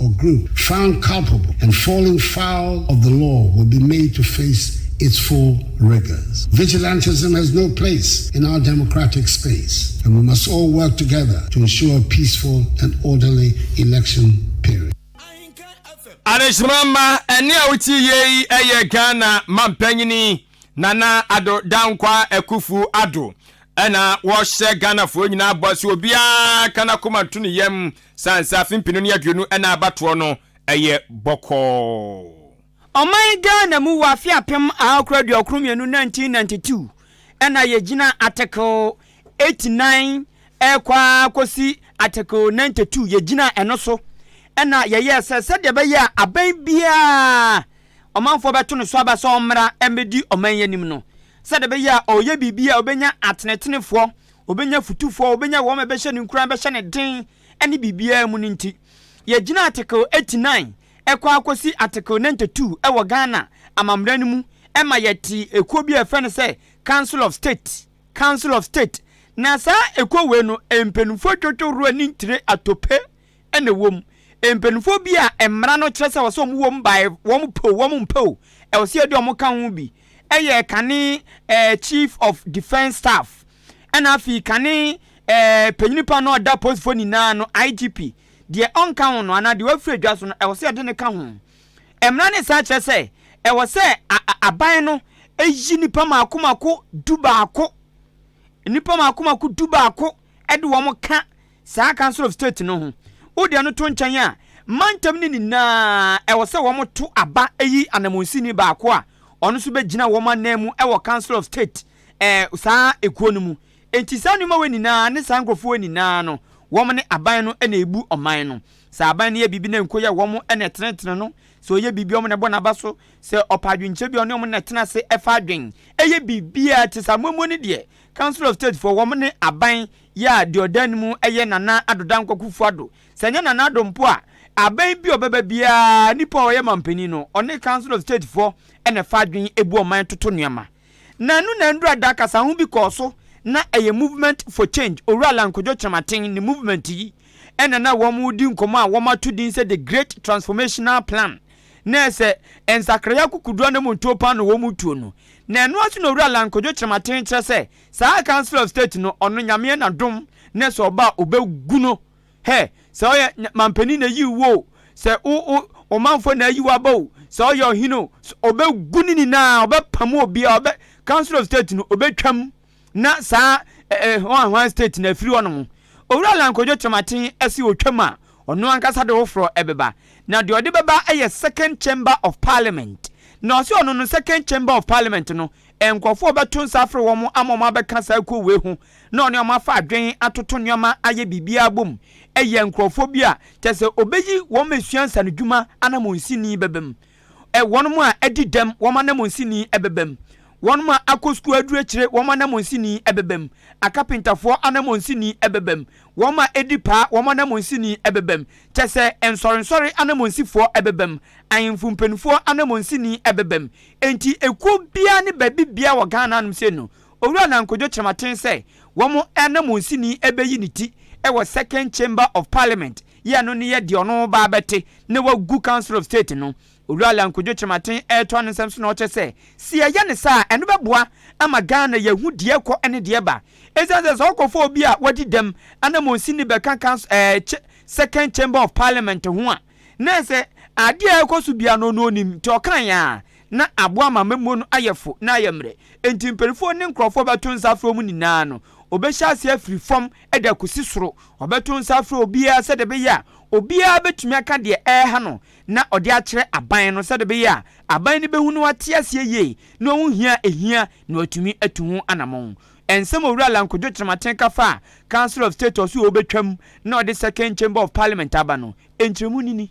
or group found culpable and falling foul of the law will be made to face its full rigors. Vigilantism has no place in our democratic space and we must all work together to ensure a peaceful and orderly election period. Adehyema mma ɛne a wotie yie yi ɛyɛ Ghana Mampanyini Nana Addo Dankwaa Akufu Addo ɛna wɔhyɛ Ghanafoɔ nyinaa bɔ sɛ obiara ka n'akoma nto ne yam Saa nsaase mpenu ne aduonu ɛna abatoɔ no ɛyɛ bɔkɔɔ. Ɔman Ghana mu wɔ afe apem ahakoro aduokron mmienu, 1992, ɛna yɛgyina Article eighty nine ɛrekɔ ara kɔsi Article ninety two, yɛgyinaa ɛno so ɛna yɛyɛɛ sɛ sɛdeɛ ɛbɛyɛ a aban biara ɔmanfoɔ bɛto ne so aba sɛ ɔmmra mmɛdi ɔman yi anim no, sɛdeɛ ɛbɛyɛ a ɔreyɛ biribi a ɔbɛnya atenetenefoɔ ɔbɛnya fotufoɔ, ɔbɛnya wɔn a ɛbɛhyɛ no nkuran, bɛhyɛ no den ne biribiara mu no nti, yɛgyina Article 89 ɛkɔ akɔsi Article 92 ɛwɔ Ghana amammra no mu ɛma yɛte ɛkuo bi a ɛfrɛ no sɛ Council of State, Council of State. Na saa ɛkuo wei no mpaninfoɔ dwodwo roa ne ntire atope. na ɛwɔ mu. Mpanimfoɔ bi a mmara no kyerɛ sɛ ɛwɔ sɛ wɔwɔ mu baeɛ, wɔpɛ o, wɔmpɛ o, ɛwɔ sɛ yɛde wɔn ka ho bi yɛ kane ɛɛ Chief of Defence Staff, ɛna afei kane ɛɛ eh, panyini pa no ɔda apolisifoɔ nyinaa no, IGP. Deɛ ɔnka ho no anaa deɛ wafiri adwa so no, ɛwɔ sɛ yɛde no ka ho. Mmara no san kyerɛ sɛ ɛwɔ sɛ aban no yi nnipa mako mako du baako nnipa mako mako du baako de wɔn ka saa council of state no ho. Wode ɛno to nkyɛn a, mantam no nyinaa ɛwɔ sɛ wɔto aba yi anamonsini baako a ɔno nso bɛgyina wɔn anan mu wɔ council of state eh, saa ekuo no mu. Enti saa nneɛma wɔ nyinaa ne saa nkurɔfoɔ wɔ nyinaa no, wɔn ne aban no na ɛbu ɔman no. Sɛ aban no yɛ biribi na nko yɛ wɔn na ɛtenetene no, sɛ ɔyɛ biribi wɔn na ɛbɔ n'aba so, sɛ ɔpɛ adwenkyerɛ bi ɔne wɔn na ɛtena ase ɛfa adwen, ɛyɛ biribiara te sɛ amoamuo no deɛ, Council of State foɔ wɔn ne aban yɛ a deɛ ɔda anim yɛ Nana Addo Dankwa Kuffo Addo. Sɛ ɛnyɛ Nana Addo mpo a, aban bi a ɔbɛba biara, nipa a ɔyɛ manpanin no, ɔne Council of State foɔ na ɛfa adwene bu ɔman toto nneɛma. Na ɛno na nnura da kasaho bi kɔɔ so na ɛyɛ Movement for Change, Owura Allan Kojo Kyerematen ne movement yi na na wɔn redi nkɔmmɔ a wɔn ato din sɛ The Great Transformational Plan. Na ɛsɛ nsakraeɛ akokoduane mu ntoopaan na wɔn retuo no. Na ɛno ara so na Owura Lang kodwo kyerɛmaten kyerɛ sɛ saa Council of State no ɔno Nyameɛ na dom ne sɛ ɔba a ɔbɛgu no hɛ, sɛ ɔyɛ Mampanin na ayi wo o, sɛ wo wo Omanfoɔ na ayi wo aba o, sɛ ɔyɛ Ɔhene o, so ɔbɛgu ne nyinaa, ɔbɛpamo obiara, ɔbɛ Council of State no ɔbɛtwam na saa ɛɛ eh, hwan hwan state na afiri hɔnom owura lankodwo kyerɛmaten ɛsi otwam a ɔno ankasa de hoforɔ ɛbɛba na deɛ ɔde bɛba ɛyɛ second chamber of parliament na ɔse ɔno no second chamber of parliament no nkurɔfoɔ bɛto nsa afrɛ wɔn ama wɔn abɛka saa kuo wei ho na ɔne wɔn afa adwen atoto nneɛma ayɛ biribiara bom ɛyɛ nkurɔfoɔ bi a kyɛ sɛ ɔbɛyi wɔn asua nsanodwuma anammɔnsini bɛbam ɛ, wɔnom a adi dɛm, wɔn ananmunsi ni ɛbɛbam, wɔnom a akɔ sukuu aduru akyire, wɔn ananmunsi ni ɛbɛbam, akapentafoɔ ananmunsi ni ɛbɛbam, wɔnom a edi paa, wɔn ananmunsi ni ɛbɛbam, kyɛ sɛ, nsɔrensɔre ananmunsifoɔ ɛbɛbam, ahenfo mpaninfoɔ ananmunsi ni ɛbɛbam. Enti ekuo biara ne baabi biara wɔ Ghana hanom sei no, Owura Nana Nkojo Kyerematen sɛ wɔn ananmunsi ni ɛbɛyi ne ti wɔ Second Chamber of Parliament, Yɛ ɛno ne yɛ deɛ ɔno ba bɛte na wagu council of state no Owura Lion Kojo Kyerematen retoa ne nsɛm so na ɔkyɛ sɛ se yɛyɛ ne saa a ɛno bɛboa ama Ghana yɛahu deɛ ɛkɔ ne deɛ ɛba ɛsiane sɛ sɛ ɔkɔfa obi a wadi dɛm anamɔnsin no bɛka council ɛɛ kye second chamber of parliament ho a na ɛsɛ adeɛ a ɛkɔ so biara no ɔno ɔnim nti ɔkaeɛ a Ná aboa amammuo no ayɛ fo na ayɛ mmerɛ, enti mpanimfoɔ ne nkurɔfoɔ bɛto nsa frɛ wɔn nyinaa no. Wɔbɛhyɛ aseɛ afiri fam de akɔsi soro. Wɔbɛto nsa afrɛ obiara sɛdeɛ ɛbɛyɛ a obiara bɛtumi aka deɛ ɛreha no na ɔde akyerɛ aban no sɛdeɛ ɛbɛyɛ a aban no bɛhu na wate aseɛ yie na wahu hia a ɛhia na watumi atu ho anamɔn. Nsɛm a Owura Lankwadwo Kyerematen ka faa Council of State Ɔso a wɔbɛtwam na wɔde Second Chamber of Parliament aba no, nkyerɛmu no ni.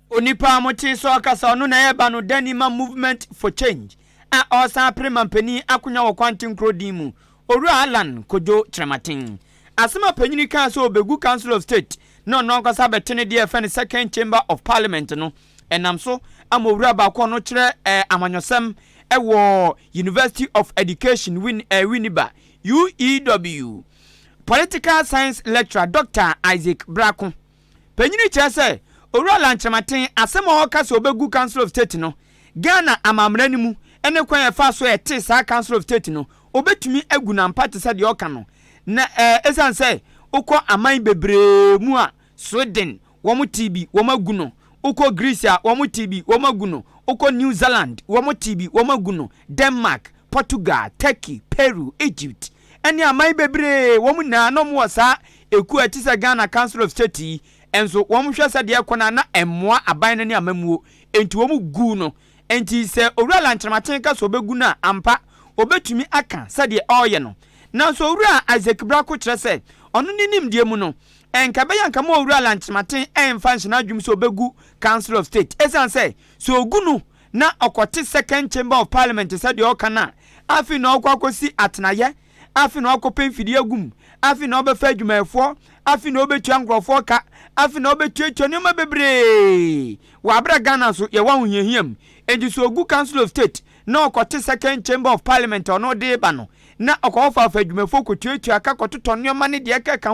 Onipa a motee sɛ ɔkasa ɔno na ɛyɛ ba no dani ma Movement for Change a ɔresan apere manpanin akonwa wɔ Kwanten kuro din mu, Owura Allan Kojo Kyerematen. Asɛm a panyin yi kaa sɛ ɔbegu Council of State na ɔno ankasa abɛte ne deɛ ɛfɛ no Second Chamber of Parliament no ɛnam so ama owura baako a ɔno kyerɛ amanyɔsɛm wɔ University of Education Winneba, UEW, Political Science Lecturer Doctor Isaac Brako. Panyin yi kyerɛ sɛ Owura Lankyerematen asɛm a ɔka sɛ ɔbɛgu Council of State no, Ghana amammara no mu ne kwan a ɛfa so a ɛte saa Council of State no, ɔbɛtumi agu no ampa te sɛ deɛ ɔka no. Na ɛɛ ɛsiane sɛ wokɔ aman bebree mu a, Sweden, wɔtee bi, wɔagu no, wokɔ Greece a, wɔtee bi, wɔagu no, wokɔ New Zealand, wɔtee bi, wɔagu no, Denmark, Portugal, Turkey, Peru, Egypt, ɛne aman bebree wɔn nyinaa na wɔn wɔ saa ɛkuo a ɛte sɛ Ghana council of state yi nso wɔn hwɛ sɛ deɛ ɛkɔ no a na ɛmmoa aban no ne amammuo nti wɔn guu no nti sɛ owura Lankyerematen ka sɛ ɔbɛgu no a ampa ɔbɛtumi aka sɛdeɛ ɔreyɛ no nanso owura Isaac Brako kyerɛ sɛ ɔno ne nimdeɛ mu no ɛnka ɛbɛyɛ anka ma owura Lankyerematen ɛmfa nhyɛ n'adwene mu sɛ ɔbɛgu council of state ɛsiane sɛ sɛ ɔgu no na ɔkɔte second chamber of parliament sɛ deɛ ɔka no a, afei na ɔkɔ akɔsi atenaeɛ, afei na ɔkɔpɛ mfidie agu mu, afei na ɔbɛfa adwumayɛfoɔ, afei na ɔbɛtua nkurɔfoɔ ka, afei na ɔbɛtuatua nneɛma bebree wɔ aberɛ Ghana so yɛwɔ ahohiahia mu. Enti sɛ ɔgu council of state na ɔkɔte second chamber of parliament a ɔno de ba no, na ɔkɔfaafa adwumayɛfoɔ kɔtuatua ka kɔtotɔ nneɛma ne deɛ ɛkeka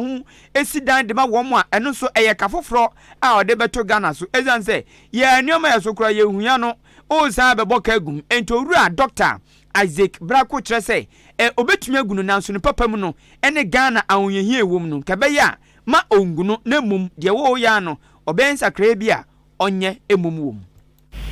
ho si dan de ma wɔn a, ɛno nso ɛyɛ ka foforɔ a ɔde bɛto Ghana so. Ɛsiane sɛ Yɛ nneɛma a ɛso koraa yɛhia no, woresan abɛbɔ ka agu mu. Enti Owura Dɔkta Isaac Brako kyerɛ sɛ ɛ obetumi agu no nanso ne papa mu no ne Ghana ahohiahia a ɛwom no nka ɛbɛyɛ a ma ongu no na mmom deɛ ɛwɔ hɔ yi ara no ɔbɛyɛ nsakraeɛ bi a ɔnyɛ mmom wɔ mu.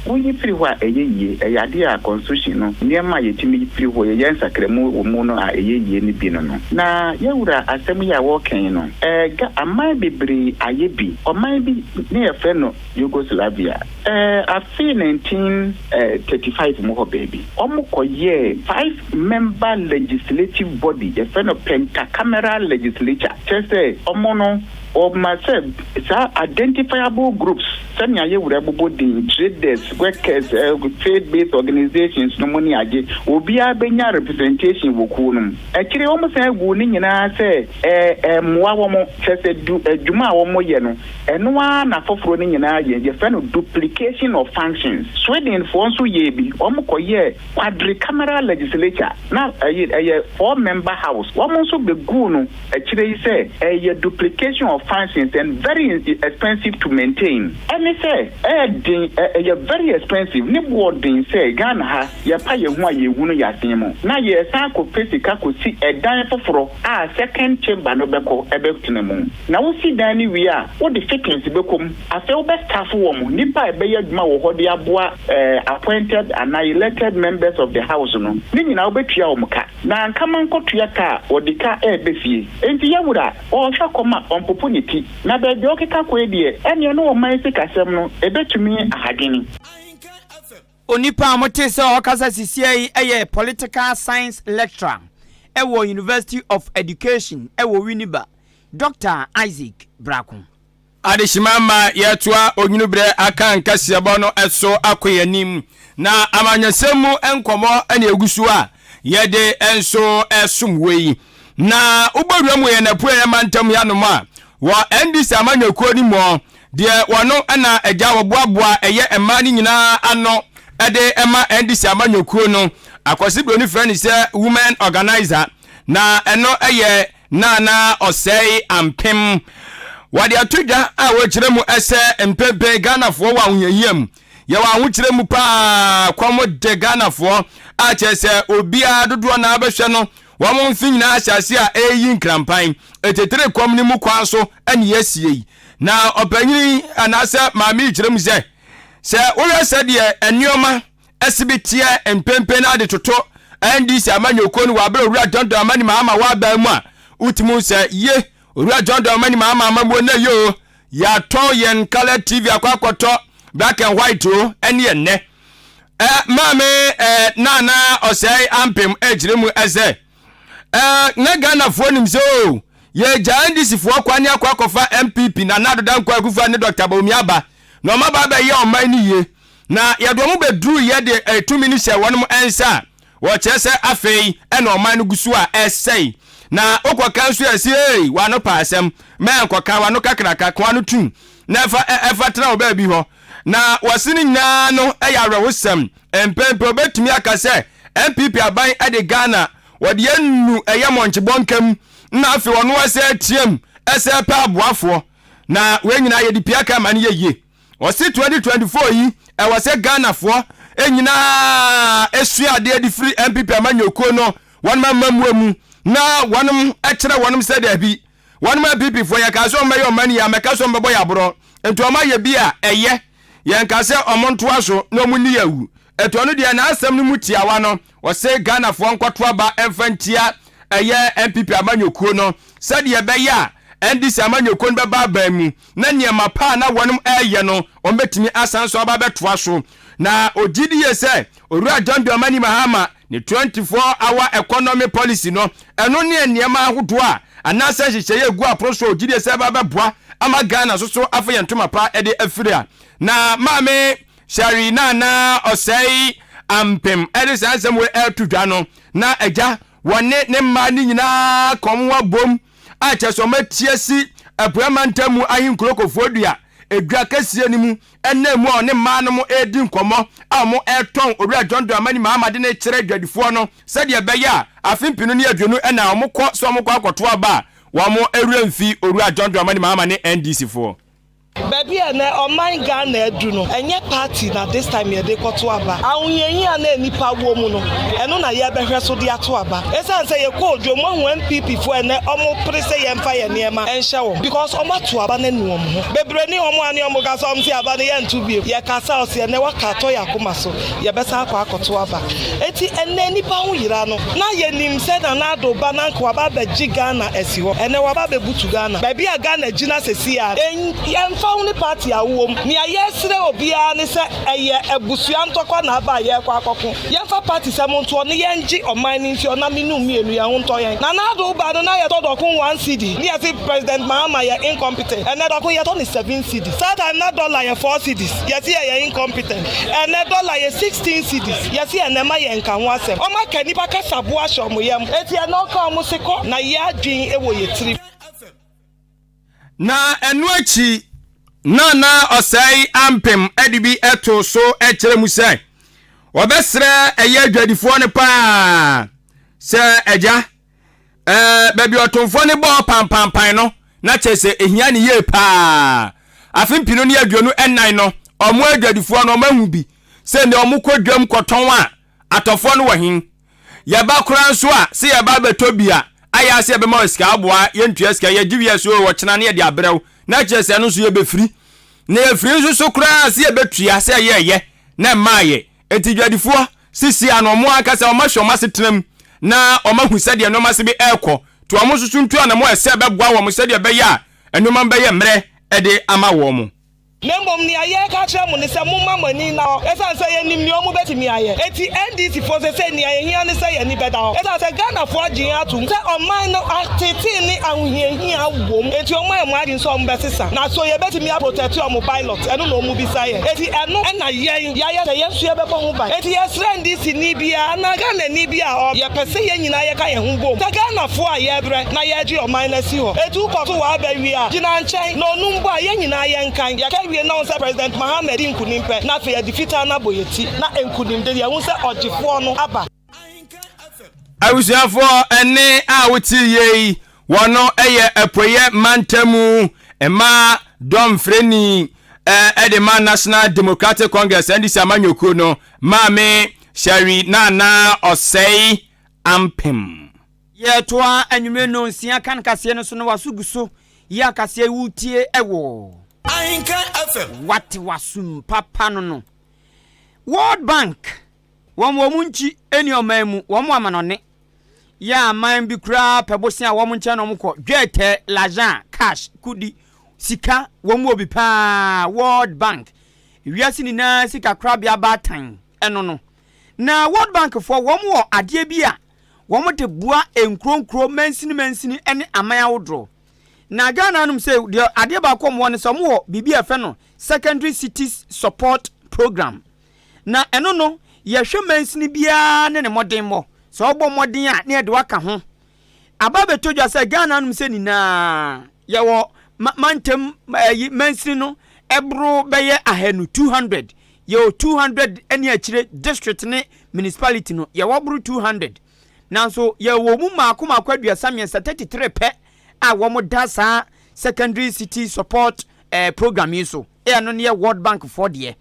Woyi firi hɔ a ɛyɛ yie, ɛyɛ adeɛ a Constitution no nneɛma a yɛtumi yi firi hɔ, yɛyɛ nsakramu wɔ mu no a ɛyɛ yie no bi no no. Na yɛn Wura asɛm yi a wɔreka yi no, ɛ ga aman bebree ayɛ bi. Ɔman bi. ne yɛfrɛ no Yugoslavia, ɛɛ afe 1935 mu hɔ baabi. Wɔkɔyɛɛ five member legislative body, yɛfrɛ no Pentacameral Legislature, kyerɛ sɛ wɔn no wɔma sɛ saa identifiable groups sɛnea yɛ wura bobɔ din, traders, workers, ɛɛ trade based organisations nom ne ade, obiara bɛnya representation wɔ kuo no mu. Akyire yi wɔsan guu ne nyinaa sɛ ɛmmoa wɔn, kyerɛ sɛ du adwuma a wɔyɛ no, ɛno ara na afoforɔ no nyinaa yɛ. Yɛfrɛ no duplication of functions. Swedenfoɔ nso yɛɛ bi. Wɔkɔyɛɛ quadricameral legislature, na ɛyɛ four member house. Wɔn nso bɛguu no akyire yi sɛ ɛyɛ duplication of functions and very expensive to maintain. Ɛne sɛ ɛyɛ den, ɛyɛ very expensive, ne boɔ den sɛ Ghana ha. Yɛpa yɛn ho a yehu no yɛasen mu na yɛresan akɔpɛ sika kosi ɛdan foforo a second chamber no bɛkɔ bɛtena mu. Na wosi dan no wie a, wode fittings bɛkɔ mu. Afei wobɛ staff wɔn nnipa a ɛbɛyɛ adwuma wɔ hɔ de aboa appointed anaa elected members of the house no. Ne nyinaa wobɛtua wɔn ka. Na anka mankɔtua ka a wɔde ka reba fie. Enti yawura ɔrehwɛ kɔm a ɔmpopo ne ti. Na baabi a ɔkeka kɔ yi deɛ, ɛnneɛ na ɔman sikasɛm no ɛbɛtumi ahadwene. Onipa a motee sɛ ɔrekasa sisiɛ yi yɛ Political Science Lecturer wɔ University of Education wɔ Winneba, Dɔkta Isaac Brako. Adehyema ma yɛtoa Onwunu Berɛ Akan kaseɛbɔ no so akɔ yɛn anim, na amanyɔsɛm mu nkɔmmɔ na ɛgu so a yɛde nso resom wo yi. Na wobɔ wura mu wɔ yɛn apueɛ mantam hanom a, wɔ NDC amanyɔkuo no mu hɔ, Deɛ wɔn na agya a wɔboaboa ɛyɛ mmaa no nyinaa ano de ma NDC amanyɔkuo no, Akwasi Broni frɛ no sɛ Women Organiser, na ɛno yɛ Nana Ɔsɛe Ampem. Wɔde ato dwa a wɔkyerɛ mu sɛ mprempren Ghanafoɔ wɔ ahohiahia mu. Yɛwɔ ahokyerɛ mu pa ara, kɔm de Ghanafoɔ, a kyerɛ sɛ obiara dodoɔ no ara bɛhwɛ no, wɔn mfe nyinaa ahyɛase a ɛreyi nkrampan. Ɛtitire kɔm no mu kwan so na yɛasie yi. Na ɔpanyin yi anaasɛ maame yi kyerɛ mu sɛ, sɛ wohwɛ sɛdeɛ nneɛma ɛsi bi teɛ mprempren na ade toto NDC amanyɔkuo no wɔ abere Owura John Dramani Mahama wɔaban mu a, wotumi hu sɛ ye Owura John Dramani Mahama amammuo nnɛ yi o, yɛatɔn yɛn colour TV akɔ akɔtɔ black and white o, ɛne ɛnnɛ. Ɛ, maame ɛ, Nana Ɔsɛe Ampem ɛkyerɛ mu ɛsɛ. Eh, na Ghanafoɔ nim sɛ o, oh, yɛgyaa NDCfoɔ kwane akɔ akɔfa MPP Nana Addo Dankwa Akufo ne Dr. Bawumia aba na wɔn aba abɛyɛ ɔman no yie na yɛde wɔn bɛduru yɛ de eh, tumi no hyɛ wɔn nsa a wɔkyerɛ sɛ afei ɛna ɔman no gu so a ɛsɛe na wokɔka nso yɛ sɛ ei wano pa asɛm mɛnkɔka wano kakraka koa no tum na ɛfa ɛfa tena wɔ baabi hɔ Na wɔse no nyinaa no yɛ awerɛhosɛm. Mpɛn pii wobɛtumi aka sɛ NPP aban de Ghana wɔde anu yɛ mɔnkye bɔnka mu na afei ɔno ɔsɛ team sɛ pɛ aboafoɔ. Na wei nyinaa yɛde pii aka ma no yɛ yie. Wɔse 2024 yi ɛwɔ sɛ Ghanafoɔ nyinaa sua adeɛ de firi NPP amanyɔkuo no wɔnom amammuo mu na wɔnom kyerɛ wɔnom sɛ daabi Wɔnom a PP foɔ yɛkaa sɛ wɔbɛyɛ wɔn ani a mɛka sɛ wɔbɛbɔ yɛ aborɔ nti wɔn ayɛ bi a ɛyɛ yɛnka sɛ wɔn ntoa so na wɔn nni awu ɛti ɔno deɛ n'asɛm no mu tiawa no ɔse Ghana foɔ nkɔto aba mfa ntia ɛyɛ NPP amanyɔkuo no sɛdeɛ ɛbɛyɛ a NDC amanyɔkuo no bɛba aban mu na nneɛma pa a na wɔreyɛ no, wɔbɛtumi asan nso aba abɛtoa so. Na ɔgye di yie sɛ Owura John Dramani Mahama ne 24 hour economy policy no, ɛno ne nneɛma ahodoɔ a anaasɛ nhyehyɛeɛ a ɛgu apono so a ɔgye di sɛ ɛba bɛboa ama Ghana nso so afa yɛn ntoma pa de afiri a na maame Shari Nana Ɔsɛe Ampem de saa nsɛm wei ɛreto dwa no. Na agya wɔne ne mmaa no nyinaa ka wɔn ho abom a kyerɛ sɛ wɔati asi Apueɛ Mantam mu Ahenkuro Kofoɔdua edwa kɛseɛ no mu ɛnam mu a ɔne mmaa no mo ɛredi nkɔmmɔ a wɔn ɛretɔn Owura John Dramani Mahama de no rekyerɛ adwadifoɔ no sɛdeɛ ɛbɛyɛ a afe mpenu ne aduonu ɛna wɔn kɔ sɛ wɔn kɔ akɔto aba a wɔn werɛ mfi Owura John Dramani Mahama ne NDC foɔ. Baabi a ɛnɛ ɔman Ghana adu no, ɛnyɛ party na this time yɛde rekɔto aba. Ahohiahia a na nnipa wɔ mu no, ɛno na yɛrebɛhwɛ so de ato aba. Esiane sɛ yɛkɔɔ dwom, moahu NPP foɔ ɛnɛ wɔpere sɛ yɛmfa yɛn nneɛma nhyɛ wɔn because wɔato aba no anu wɔn ho. Bebree ne wɔn a ne wɔka sɛ wɔnte aba no yɛnto bio. Yɛkasa a, ɔse ɛnɛ waka atɔ yɛn akoma so. yɛbɛsan akɔ akɔto aba. Enti ɛnnɛ nnipa ho yera no, na yɛnim sɛ Nana Addo ba no anka waba abɛgye Ghana asi hɔ. Ɛnnɛ waba abɛbutu Ghana. Baabi a Ghana gyina seesei ara no, ɛmfa ho ne party a wowɔ mu, nea yɛsrɛ obiara ne sɛ ɛyɛ abusua ntɔkwa na aba a yɛrekɔ akɔko. Yɛmfa party sɛm ntoɔ na yɛngye ɔman no mfi ɔnam nnum mmienu, yɛn ho ntɔ yɛn. Nana Addo ba no, na yɛtɔ dɔko one cedi ne yɛse President Mahama yɛ incompetent. Ɛnnɛ dɔko yɛtɔ no seven cedi. Saa time no na dollar yɛ four cedis. Yɛse yɛyɛ incompetent. Ɛnɛ dɔla yɛ sixteen cedis yɛse ɛnɛ mma yɛ nka ho asɛm ɔmo aka nnipa kasa bo ahyɛ ɔmo yam eti ɛnɛ ɔka ɔmo se kɔ na yɛ adwen wɔ yɛ tirim. Na ɛno akyi na na ɔsɛe ampem de bi to so kyerɛ mu sɛ wɔbɛsrɛ ɛyɛ adwadifoɔ no paa sɛ agya Ɛɛ, baabi ɔtomfoɔ no bɔɔ pampampan no, na kyerɛ sɛ ɛhia no yie paa. Afe mpenu ne aduonu nnan no, wɔn adwadifoɔ no wɔahu bi sɛ nnɛ wɔkɔ dwam kɔtɔn a, atɔfoɔ no wɔ he? Yɛba koraa nso a, sɛ yɛba abɛtɔ bi a, ayɛ ara sɛ yɛbɛma wɔn sika, aboa, yɛntua sika, yɛgye wie a sɛ oo ɔkyena no yɛde abrɛ wo, na kyerɛ sɛ ɛno nso yɛbɛfiri. Na yɛfiri nso so koraa a, sɛ yɛbɛtua sɛ ɛyɛɛyɛ na ɛmmaeɛ. Enti dwadifoɔ sisi ano, wɔn ankasa wɔahwɛ wɔn asetena mu na wɔahu sɛdeɛ nneɛma si bi rekɔ. To wɔn nso so ntu anammɔn a ɛsɛ sɛ ɛbɛboa wɔn sɛdeɛ ɛbɛyɛ a nneɛma no bɛyɛ mmerɛ de ama wɔn. Na mmom nea yɛreka akyerɛ mo ne sɛ momma mo ani nna hɔ ɛsiane sɛ yɛnim nea wɔbɛtumi ayɛ. Enti NDC foɔ seesei nea ɛhia ne sɛ yɛn ani bɛda hɔ ɛsiane sɛ Ghanafoɔ agye yɛn atom sɛ ɔman no atetee ne ahohiahia wom enti wɔmma yɛn adwene sɛ wɔbɛsesa na so yɛbɛtumi aprotɛte wɔn ballot ɛno na wɔbisa yɛn enti ɛno na yɛn de ayɛ sɛ yɛn nso yɛbɛbɔ ho ban. Enti yɛsrɛ NDCni biara anaa Ghanani biara a ɔwɔ ha, yɛpɛ sɛ yɛn nyinaa yɛka yɛn ho bom sɛ Ghanafoɔ a yɛrebrɛ na yɛregye ɔman no asi hɔ. Etu kɔ so wɔ aba wie a, gyina nkyɛn na onum bɔ a yɛn nyinaa yɛnkan. Yɛka wie na wohu sɛ President Mahama adi nkunim pɛ na afei yɛde fitaa no abɔ yɛn ti na nkunimde yɛahu sɛ ɔgyefoɔ no aba. Abusuafoɔ ɛne a wote yie yi wɔn yɛ apueɛ mantamu mmaa dɔmfrɛni ɛde ma National Democratic Congress NDC amanyɔkuo no maame Shari Nana Ɔsɛe Ampem. Yɛtoa anwummere no nsia kan kaseɛ no so na waso gu so yɛ akaseɛ yi wotie ɛwɔ Ahenkan FM. Wate wasum papa no no World Bank wɔn wɔn nkyi ɛni ɔman mu wɔn mo amanɔne yɛ aman bi koraa pɛ bosea a wɔn nkyɛn na wɔn kɔ dwɛɛtɛɛ lajan cash kudi sika wɔn wɔ bi paa world bank wiase nyinaa sika korabea baatan ɛno no na world bank foɔ wɔn wɔ adeɛ bi a wɔn de boa nkuro nkuro mansini mansini ɛne aman awodoro na Ghana nom sɛ deɛ adeɛ baako wɔn wɔ ne sɛ wɔn wɔ biribi a ɛfɛ no secondary cities support program Na ɛno no, yɛhwɛ mansini biara ne ne mmɔdenmmɔ. Sɛ wobɔ mmɔden a, na yɛde wo aka ho. Aba abɛtɔ dwa sɛ, Ghana anom sɛ nyinaa, yɛwɔ ma mantam ɛyi mansini no ɛboro bɛyɛ ahanu, 200. Yɛwɔ 200 ne akyire district ne municipality no, yɛwɔ boro 200. Nanso yɛwɔ mu mmaako mmaako aduasa mmiɛnsa, 33 pɛ a wɔda saa secondary city support eh, program yi so. Ɛyɛ no ne yɛ World Bank foɔ deɛ.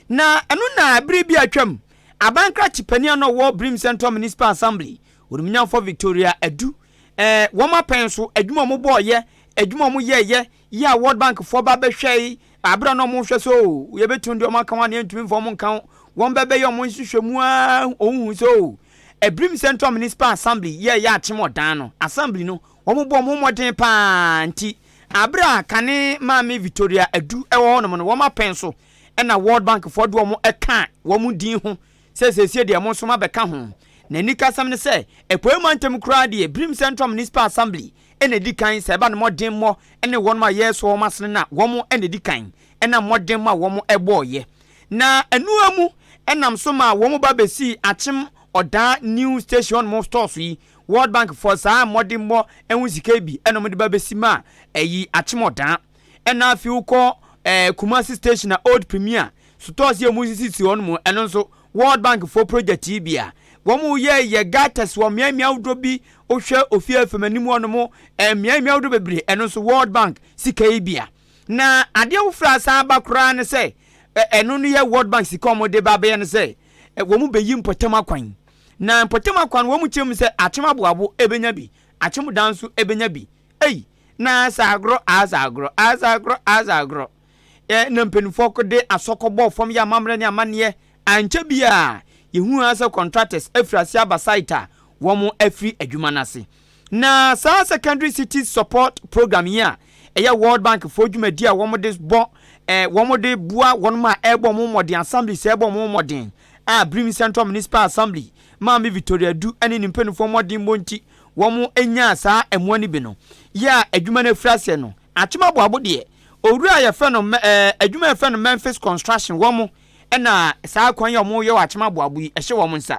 Na ɛno na bere bi a atwam, abankrakye panin a na ɔwɔ Brim Central Municipal Assembly, Onimnyamfoɔ Victoria Adu, eh, wɔn apɛn so adwuma a wɔbɔɔeɛ, adwuma a wɔyɛeɛ, yɛ a World Bankfoɔ ba bɛhwɛe, abere a na wɔhwɛ sɛ o, yɛbɛtumi de wɔn aka ho anaa yɛntumi mfa wɔn nka ho, wɔn bɛbɛyɛ wɔn nhwehwɛmu a wɔhu sɛ o, Brim Central Municipal Assembly yɛɛyɛ akyem ɔdan no, Assembly no, Wɔbɔ wɔn ho mmɔden pa ara nti, bere a kane Maame Victoria Adu wɔ hɔnom no, wɔma pɛn so na World Bankfoɔ de wɔn ka wɔn din ho sɛ seesei deɛ mo nso moabɛka ho. N'anikasɛm ne sɛ, Apueeɛ mantam koraa deɛ, Birim Central Municipal Assembly na ɛdi kan sɛ ɛba ne mmɔdemmɔ ne wɔnom a yɛresoa wɔn asene no a, wɔn na ɛdi kan ɛnam mmɔdemmɔ a wɔn bɔeɛ na ɛno ara mu nam so maa wɔn ba bɛsii Akyem Ɔdaa New Station hɔnom stores yi World Bank foɔ saa mmɔdenmɔ ɛho sika yi bi ɛna wɔde ba bɛsi ma ɛyi Akyemɔdaa ɛna afei wokɔ ɛɛ Kumasi station a Old Premier sotɔɔs yi a wɔsisisi hɔ no mu ɛno nso World Bank foɔ project yi bi a wɔn yɛ yɛ gutters wɔ mmeae mmeae ahodoɔ bi wohwɛ ofie afam anim hɔ no mo ɛɛ mmeae mmeae ahodoɔ bebree ɛno nso World Bank sika yi bi a na adeɛ foforɔ a san ba koraa ne sɛ ɛno no yɛ World Bank sika wɔn de ba bɛyɛ no sɛ wɔn bɛyi mpɔtam akwan Na mpɔtam akoa no wɔn kyerɛm sɛ akyem aboabo ɛbɛnya bi, akyem dan nso ɛbɛnya bi. Ei! Na aasa agorɔ, aasa agorɔ, aasa agorɔ, aasa agorɔ. Ɛ, na mpanimfoɔ kɔ de asɔ kɔ bɔɔ fam yɛ amammerɛ ne amanneɛ. Ankyɛ biara, yɛhuu ara sɛ contractors afiri aseɛ aba site a wɔn afiri adwuma no ase. Na saa Secondary Cities Support Programme yi a ɛyɛ World Bank foɔ dwumadie a wɔn de bɔ eh, wɔn de boa wɔn a ɛrebɔ wɔn mmɔden assembly sɛ ɛrebɔ wɔn mmɔden a Birim Central Municipal Assembly maame Victoria Adu ne ne mpanimfoɔ mmɔdenbɔ nti wɔn nyaa saa mmoa no bi no yɛ a adwuma no afiri aseɛ no Akyem Aboabo deɛ owura a yɛfrɛ no eh, adwuma yɛfrɛ no Memphis Construction wɔn na saa kwan yi a wɔyɛ wɔ Akyem Aboabo yi ɛhyɛ wɔn nsa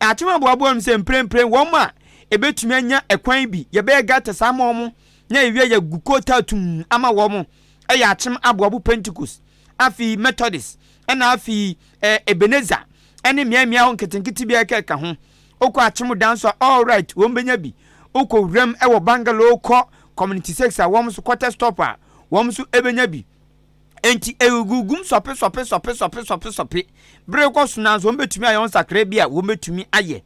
Atem aboaboa no sɛ mprempren wɔn a ebetumi anya ɛkwan bi yɛbɛyɛ gatas ama wɔn na yɛwia yɛagu kootaa tumm ama wɔn yɛ atem aboabo Pentecost, afei Methodist, ɛna afei eh, Ebenezer, ɛne mmeae mmeae hɔ nketenkete bi a ɛkɛka ho. Wokɔ atem dan so a, all right, wɔn benya bi. Wokɔ wuram wɔ Bangalore kɔ Community Six a wɔn nso quarter stop a, wɔn nso ebenya bi. Enti egugu gum sɔpe sɔpe sɔpe sɔpe sɔpe sɔpe bere rekɔ so, nanso wɔbetumi ayɛ wɔn nsakrae bi a wɔbetumi ayɛ.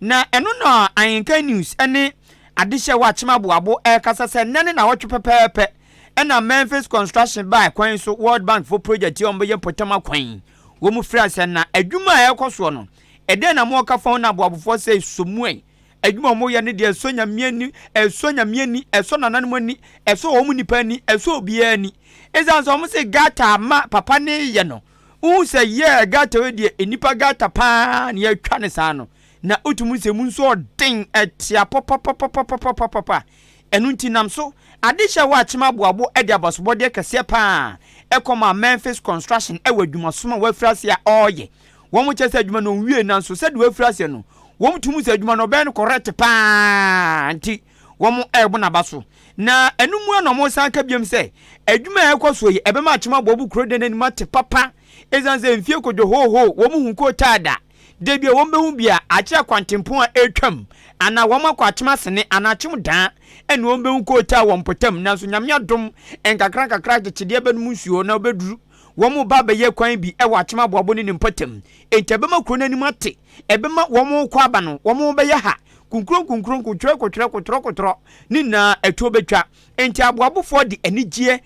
Na ɛno na Anglican News ne adehye a ɛwɔ Akyem Aboabo rekasa sɛ nnɛ ne naawɔtwe pɛpɛɛpɛ na Memphis Construction baa kwan so World Bank fo project yi a wɔbɛyɛ mpɔtam akwan yi. Wɔfrɛ sɛ na adwuma a ɛrekɔ soɔ no, ɛdɛn na moka fa ho na aboabofoɔ sɛ Somuai Adwuma a wɔyɛ no deɛ ɛsɔ Nyame ani, ɛsɔ Nyame ani, ɛsɔ nananom ani, ɛsɔ wɔn nipa ani, ɛsɔ obiara ani. Ɛsiane sɛ wɔn se gata ma papa ne yɛ no, wohu sɛ yɛɛ gata wei deɛ nnipa gata paa na yɛatwa ne saa no, na wotumi sɛ mu nso ɔden, ɛtea papapapapapapapa. Ɛno nti nam so ade hyɛ hɔ akyem aboabo de abasobɔdeɛ kɛseɛ paa kɔmaa Memphis Construction wɔ adwumasom a wafiri ase a ɔreyɛ Wɔkyerɛ sɛ adwuma no nwiei nanso sɛdeɛ wafiri aseɛ no, wɔtu mu sɛ adwuma no ɔbɛyɛ no correct pa ara nti wɔrebo n'aba so. Na ɛno mu ara na wɔsan ka biom sɛ adwuma a ɛrekɔ soɔ yi ɛbɛma Akyem Aboabo kuro dan anim ate papa ɛsiane sɛ mfie kɔdwo hoohoo wɔn hu koo taa da. Da bi a wɔbɛhu bi a akyerɛ akwantempɔn a ɛretwam anaa wɔn akɔ Akyem Asene anaa Akyem Daa ɛne wɔbɛhu koo taa wɔ mpɔtam nanso Nyame adom nkakrankakra agyekyedeɛ bɛnom nsuo na wɔbɛduru Wɔreba abɛyɛ kwan bi wɔ Akyem Aboabo ne ne mpɔtam. Enti ɛbɛma kuro no anim ate. Ɛbɛma wɔn rekɔ aba no, wɔbɛyɛ ha, kunkuro nkunkuro, nkotwerɛ kotwerɛ, kotorɔ kotorɔ, ne nyinaa atuo bɛtwa. Enti Aboabofoɔ de anigyeɛ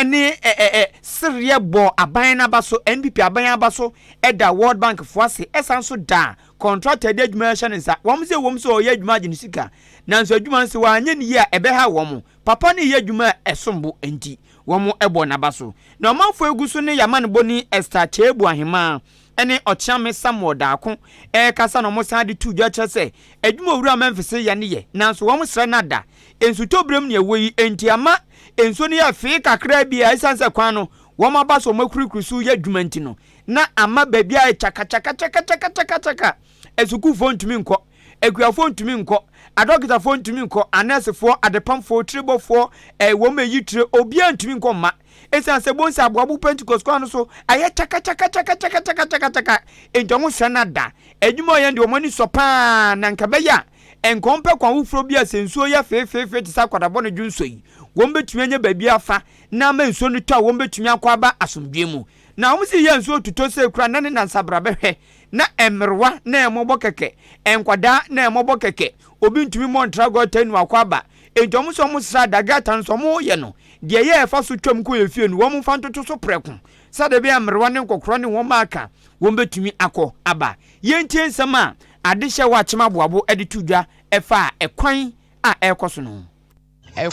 ne sereɛ bɔɔ aban no aba so, NPP aban aba so da World Bank foɔ ase, ɛsan nso da kɔntrata de adwuma hyɛ ne nsa. Wɔn sɛ ɛwom sɛ ɔreyɛ adwuma agye ne sika, nanso adwuma no sɛ wɔanyɛ no yie a ɛbɛhaw wɔn. Papa no reyɛ adwuma a ɛsombo enti wɔbɔ n'aba so. Na ɔmanfoɔ gu so ne Yamanboni Ester Kyeabu Ahemaa ne Ɔkyeame Samuel Daako rekasa na wɔsan de to dwa kyerɛ sɛ adwuma a Owura Memphis reyɛ no yɛ nanso wɔsrɛ no ada nsutɔberɛm nea ɛwɔ yi nti ama nsuo no yɛ fee kakraa bi a ɛsiane sɛ kwan no wɔaba so wɔakurikuri so reyɛ adwuma nti no na ama baabi ayɛ kyakakyakakyakakyakakyaka a asukuufoɔ ntumi nkɔ Akuafoɔ ntumi nkɔ, adɔkotafoɔ ntumi nkɔ, anɛɛsefoɔ, adepamfoɔ, tiribɔfoɔ, eh, wɔn a ɛyi tire, obiara ntumi nkɔ mma. Ɛsiane sɛ bohu sɛ aboabo Pentecost kwan no so ayɛ kyakakyakakyakakyakakyakakyaka, enti wɔn srɛ no ada. Adwuma a wɔyɛ no deɛ wɔn ani sɔ pa ara, na anka ɛbɛyɛ a, anka wɔmpɛ kwan foforɔ bi a sɛ nsuo yɛ feefeefe te sɛ akwadabɔ ne dwonsɔ yi, wɔbɛtumi anya baabi afa na ama nsuo no tɔ a wɔbɛtumi akɔ aba asomdwoeɛ mu. Na wɔn se yɛ a nsuo totɔ sei koraa nnɛ ne nnansa bra bɛhwɛ. Na mmerewa na wɔbɔ kɛkɛ, nkwadaa na wɔbɔ kɛkɛ, obi ntumi mmɔ ntra gɔta nnu akɔ aba. Enti wɔn sɛ wɔsra a, dagata nso wɔyɛ no. Deɛ ɛyɛ a ɛfa so twam kɔ yɛn fie no, wɔmfa ntoto so prɛko, sɛdeɛ ɛbɛyɛ a mmerewa ne nkɔkorɔ ne wɔn a aka wɔn bɛtumi akɔ aba. Yɛntie nsɛm a adehyeɛ hɔ akyem aboabo de to dwa faa ɛkwan a ɛrekɔ so no ho.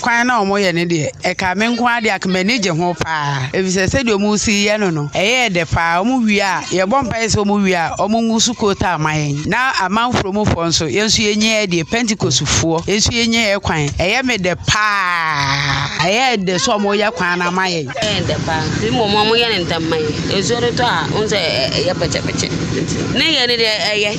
Kwan no a wɔyɛ no deɛ, ɛkaa me nko ara deɛ anka m'ani gye ho paa efisɛ sɛdeɛ wɔresi yɛ no no, ɛyɛɛ dɛ paa. Wɔwie a, yɛbɔ mpaeɛ sɛ wɔwie a, wɔngu so kootaa mma yɛn. Ná amanfro mufoɔ nso, yɛn nso yɛnyiaɛ deɛ, Pentekostefoɔ, yɛn nso yɛnyiaɛ kwan. Ɛyɛ me dɛ paa. Ɛyɛɛ dɛ sɛ wɔreyɛ kwan no ama yɛn. Ɛyɛɛ dɛ paa. Mmom wɔyɛ no ntɛm ma yɛn. Nsuo no tɔ a, wohu sɛ ɛyɛ pɛkyɛpɛkyɛ. Nti ne yɛ no deɛ, ɛyɛ.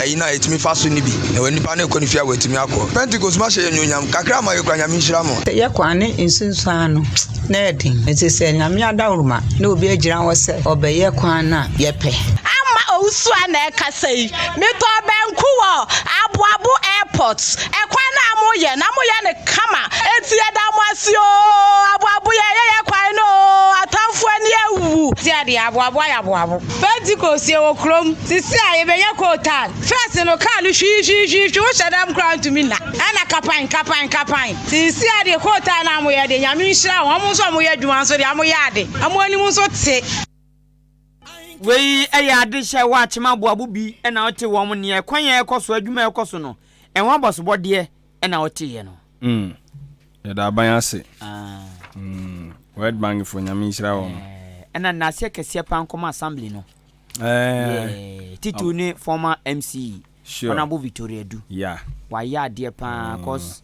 Ayi na etumi fa so no bi na wɔ nnipa no rekɔ ne fie a wɔatumi akɔ. Pentekost ma hyɛ yɛn anuonyam kakra ma yɛkura Nyame nhyira mu. Sɛ yɛkɔ a ne nsunsuan no na ɛyɛ den. Enti sɛ Nyame adaworoma na obi agyina hɔ sɛ ɔbɛyɛ kwan no a, yɛpɛ. Amma owusu a na ɛkasa yi. Metɔɔ banku wɔ Aboabo Airport. Ɛkwan no a moyɛ na moyɛ no kama enti yɛda mo ase oo. Aboabo yɛyɛ yɛn kwan no oo. Atamfo ani awu. Tia deɛ aboabo ayɛ aboabo. Pentecost yɛ wɔ kurom. Sisi a yɛbɛnya coal tar. First no car no hwi hwi hwi hwi wohyɛ dam koraa ntumi nna. Ɛna kapan kapan kapan. Sisi a deɛ coal tar no a wɔyɛ deɛ Nyame nhyira wɔn. Wɔn nso a wɔyɛ adwuma nso deɛ wɔyɛ ade. Wɔn anim nso te. Wei yɛ ade hyɛ hɔ a kyema aboabo bi na ɔte wɔn nea ɛkwan a ɛkɔ so adwuma ɛkɔ so no ɛho abɔsobɔdeɛ na ɔte yɛ no. Mm. Yɛda aban ase. Ah. Mm. World Bank fo nyame nhyira wɔn. Eh, ɛna nnaseɛ kɛseɛ paa nkɔma assembly no. Eh. Yeah. Titu um. ne former MC. Sure. Honorable Victoria Du. Yeah. Wayɛ adeɛ paa mm. cause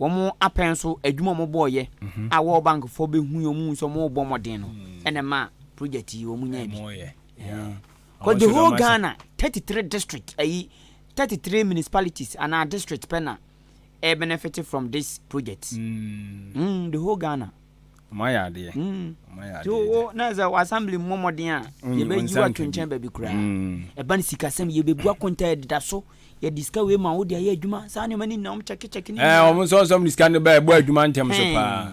wɔn apɛn so adwuma wɔn bɔɔyɛ mhm. a World Bank fo bɛhu yɛn mu nso wɔn bɔ mmɔden no mm. ɛna ma project yi wɔn nya bi. Eh. Cause the whole Ghana thirty three district ayi thirty three municipalities anaa district pɛ na. ɛ benefit from this project mm the whole Ghana. Ɔmo ayɛ adeɛ. Mm. Ɔmo ayɛ adeɛ. So wo na sɛ wɔ assembly mmɔ mmɔden a yɛbɛyi wo ato nkyɛn baabi koraa. Ɛba no sikasɛm yɛbɛbu akonta yɛdeda so yɛde sika wei ma wode ayɛ adwuma saa nneɛma no nyinaa ɔmo kyɛkekyɛke ne nyinaa. Ɔmo nsɔnsɔm ne sika no bɛɛ ɛbɔ adwuma ntɛm so paa.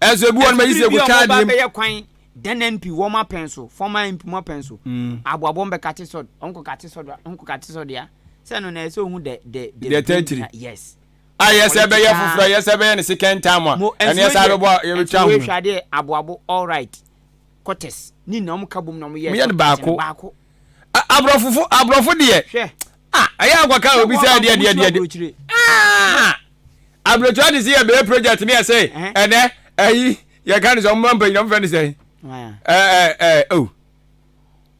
Ɛso ebi wɔn bɛyi sɛ egu kaa deɛ. Ɛbi bɛyɛ kwan dɛnɛn pi wɔn apɛn so fɔm ayɛ mpi mu apɛn so. Abo abo bɛ kate sɔd ɔnko kate sɔd a ɔnko kate sɔd ya sɛ no na ɛsɛ ohun dɛ dɛ dɛ. Dɛ tɛtiri. Yes. A yɛ sɛ bɛyɛ foforɔ yɛ sɛ bɛyɛ ne second time a ɛne yɛ sɛ abɛbɔ yɛ bɛ twa ho. Ɛso ehwɛ adeɛ abo abo all right kɔtɛs ne nyinaa wɔn ka bom na wɔn yɛ. Mo yɛ no baako. Baako. aborɔfofo aborɔfo deɛ hwɛ ah ɛyɛ akwaka a obi sɛ ɛdeɛ ɛdeɛ ɛdeɛ ɛdeɛ ah aburokyire adi si yɛ bɛyɛ project ne ɛsɛ ɛnɛ ɛyi yɛ ka ne sɛ ɔmo mpanyinam fɛ ne sɛ ɛɛ ɛɛ o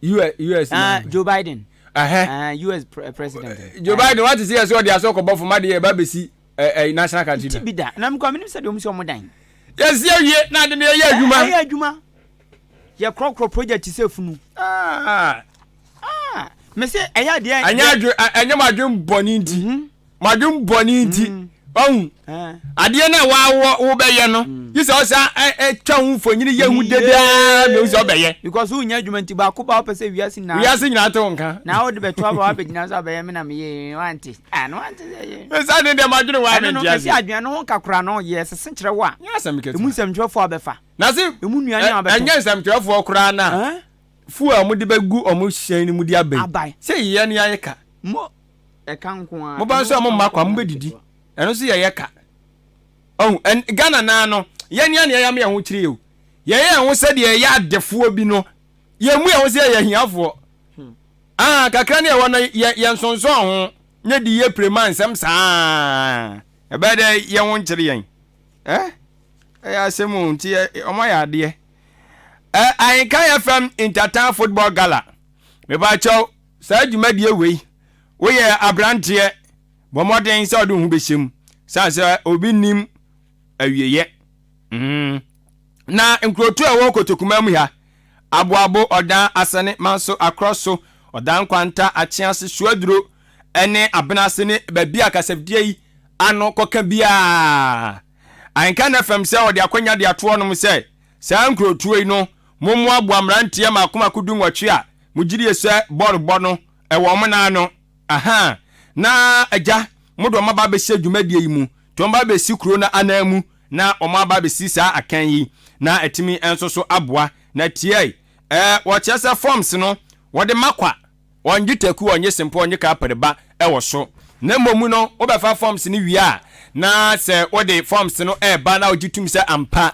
us na joe biden us president joe biden wate si yɛ sɛ ɔde asɔ kɔbɔ fama deɛ ɛba bɛsi ɛɛ national country na. ti bi da na mi kɔ mi ni sɛ deɛ ɔmo sɛ ɔmo dan. yɛsi awie na adi ne yɛ adwuma. ɛyɛ adwuma. Yɛ korɔ korɔ project ti sɛ funu. Ah ah mese ɛyɛ deɛ. Ɛnyɛ adwe ɛnyɛ mo adwe bɔne nti. Mm -hmm. Mo adwe bɔne nti. Mm -hmm. ɔhu eh. adeɛ no a waawɔ wobɛyɛ no hmm. gye sɛ ɔsa twa ho mfonyini yɛ hu dedaa mehu sɛ ɔbɛyɛ because wonya adwuma nti baako ba wopɛ sɛ wiase nyinaa wiase nyinaa te wo nka na wode bɛto aba wabɛgyina sɛ abɛyɛ me na meyɛ wante ano wante ɛsa ne deɛ madwene wɔ amentiase ɛsɛ adwene no ho kakora no yɛ sese kyerɛ wo a ɛmu nsɛmtwerɛfoɔ abɛfa Na se emu nnuane a wɔbɛtɔ. Ɛnyɛ nsɛmtwerɛfoɔ koraa na. Fuo a wɔde bɛgu wɔn hyɛn no mu de aba yi. Aba yi. Sɛ yɛn ne ayɛ ka. Mo ɛka nko ara. Moba nso a momma kwa, mobɛdidi. Ɛno nso yɛyɛ ka. Ɔhu, ɛn, Ghana naa no, yɛn ne anea yɛama yɛn ho kyerɛ yi o. Yɛyɛ yɛn ho sɛdeɛ yɛyɛ adefoɔ bi no. Yɛmmu yɛn ho sɛ yɛyɛ ahiafoɔ. Ah, kakra ne ɛwɔ no, yɛ, yɛnsonsɔn ho, nyɛ di yɛ pire ma nsɛm saa a. Ɛbɛyɛ dɛ yɛn ho nkyere yɛn. Eh, ɛyɛ asɛm o, nti ɔmo ayɛ adeɛ. Eh, Ahenka FM Intertown Football Gala. Mebakyɛw, saa dwumadie wei, woyɛ abranteɛ, bɔ mmɔden sɛ ɔde wo ho bɛhyɛ mu, sane sɛ obi nnim awieɛ. Mm. Na nkurotu a ɛwɔ Kotokumaa mu ha, Aboabo, Ɔdan, Asɛne, Manso, Akorɔso, Ɔdan Nkwanta, Akyease, Suaduro ne Abenase ne baabi a kasafidie yi ano kɔka biara. Anka na fam sɛ wɔde akwanya de ato hɔnom sɛ saa nkurotuo yi no mommoaboa mmeranteɛ mmaako mmaako du nwɔtwe a mogyidie sɛ bɔɔlobɔ no ɛwɔ wɔn nan ano. Aha, na agya, mo de wɔn aba abɛhyɛ dwumadie yi mu nti wɔn aba abɛsi kuro no ananmu na wɔaba abɛsi saa akan yi, na atumi nso so aboa, na tiae, eh, wɔkyerɛ sɛ forms no wɔde ma kwa, wɔnnye taku, wɔnnye sempo, wɔnnye kapere ba wɔ so, na mmom no wobɛfa forms no wie a, na sɛ wode forms no ɛreba na wogye tum sɛ ampa,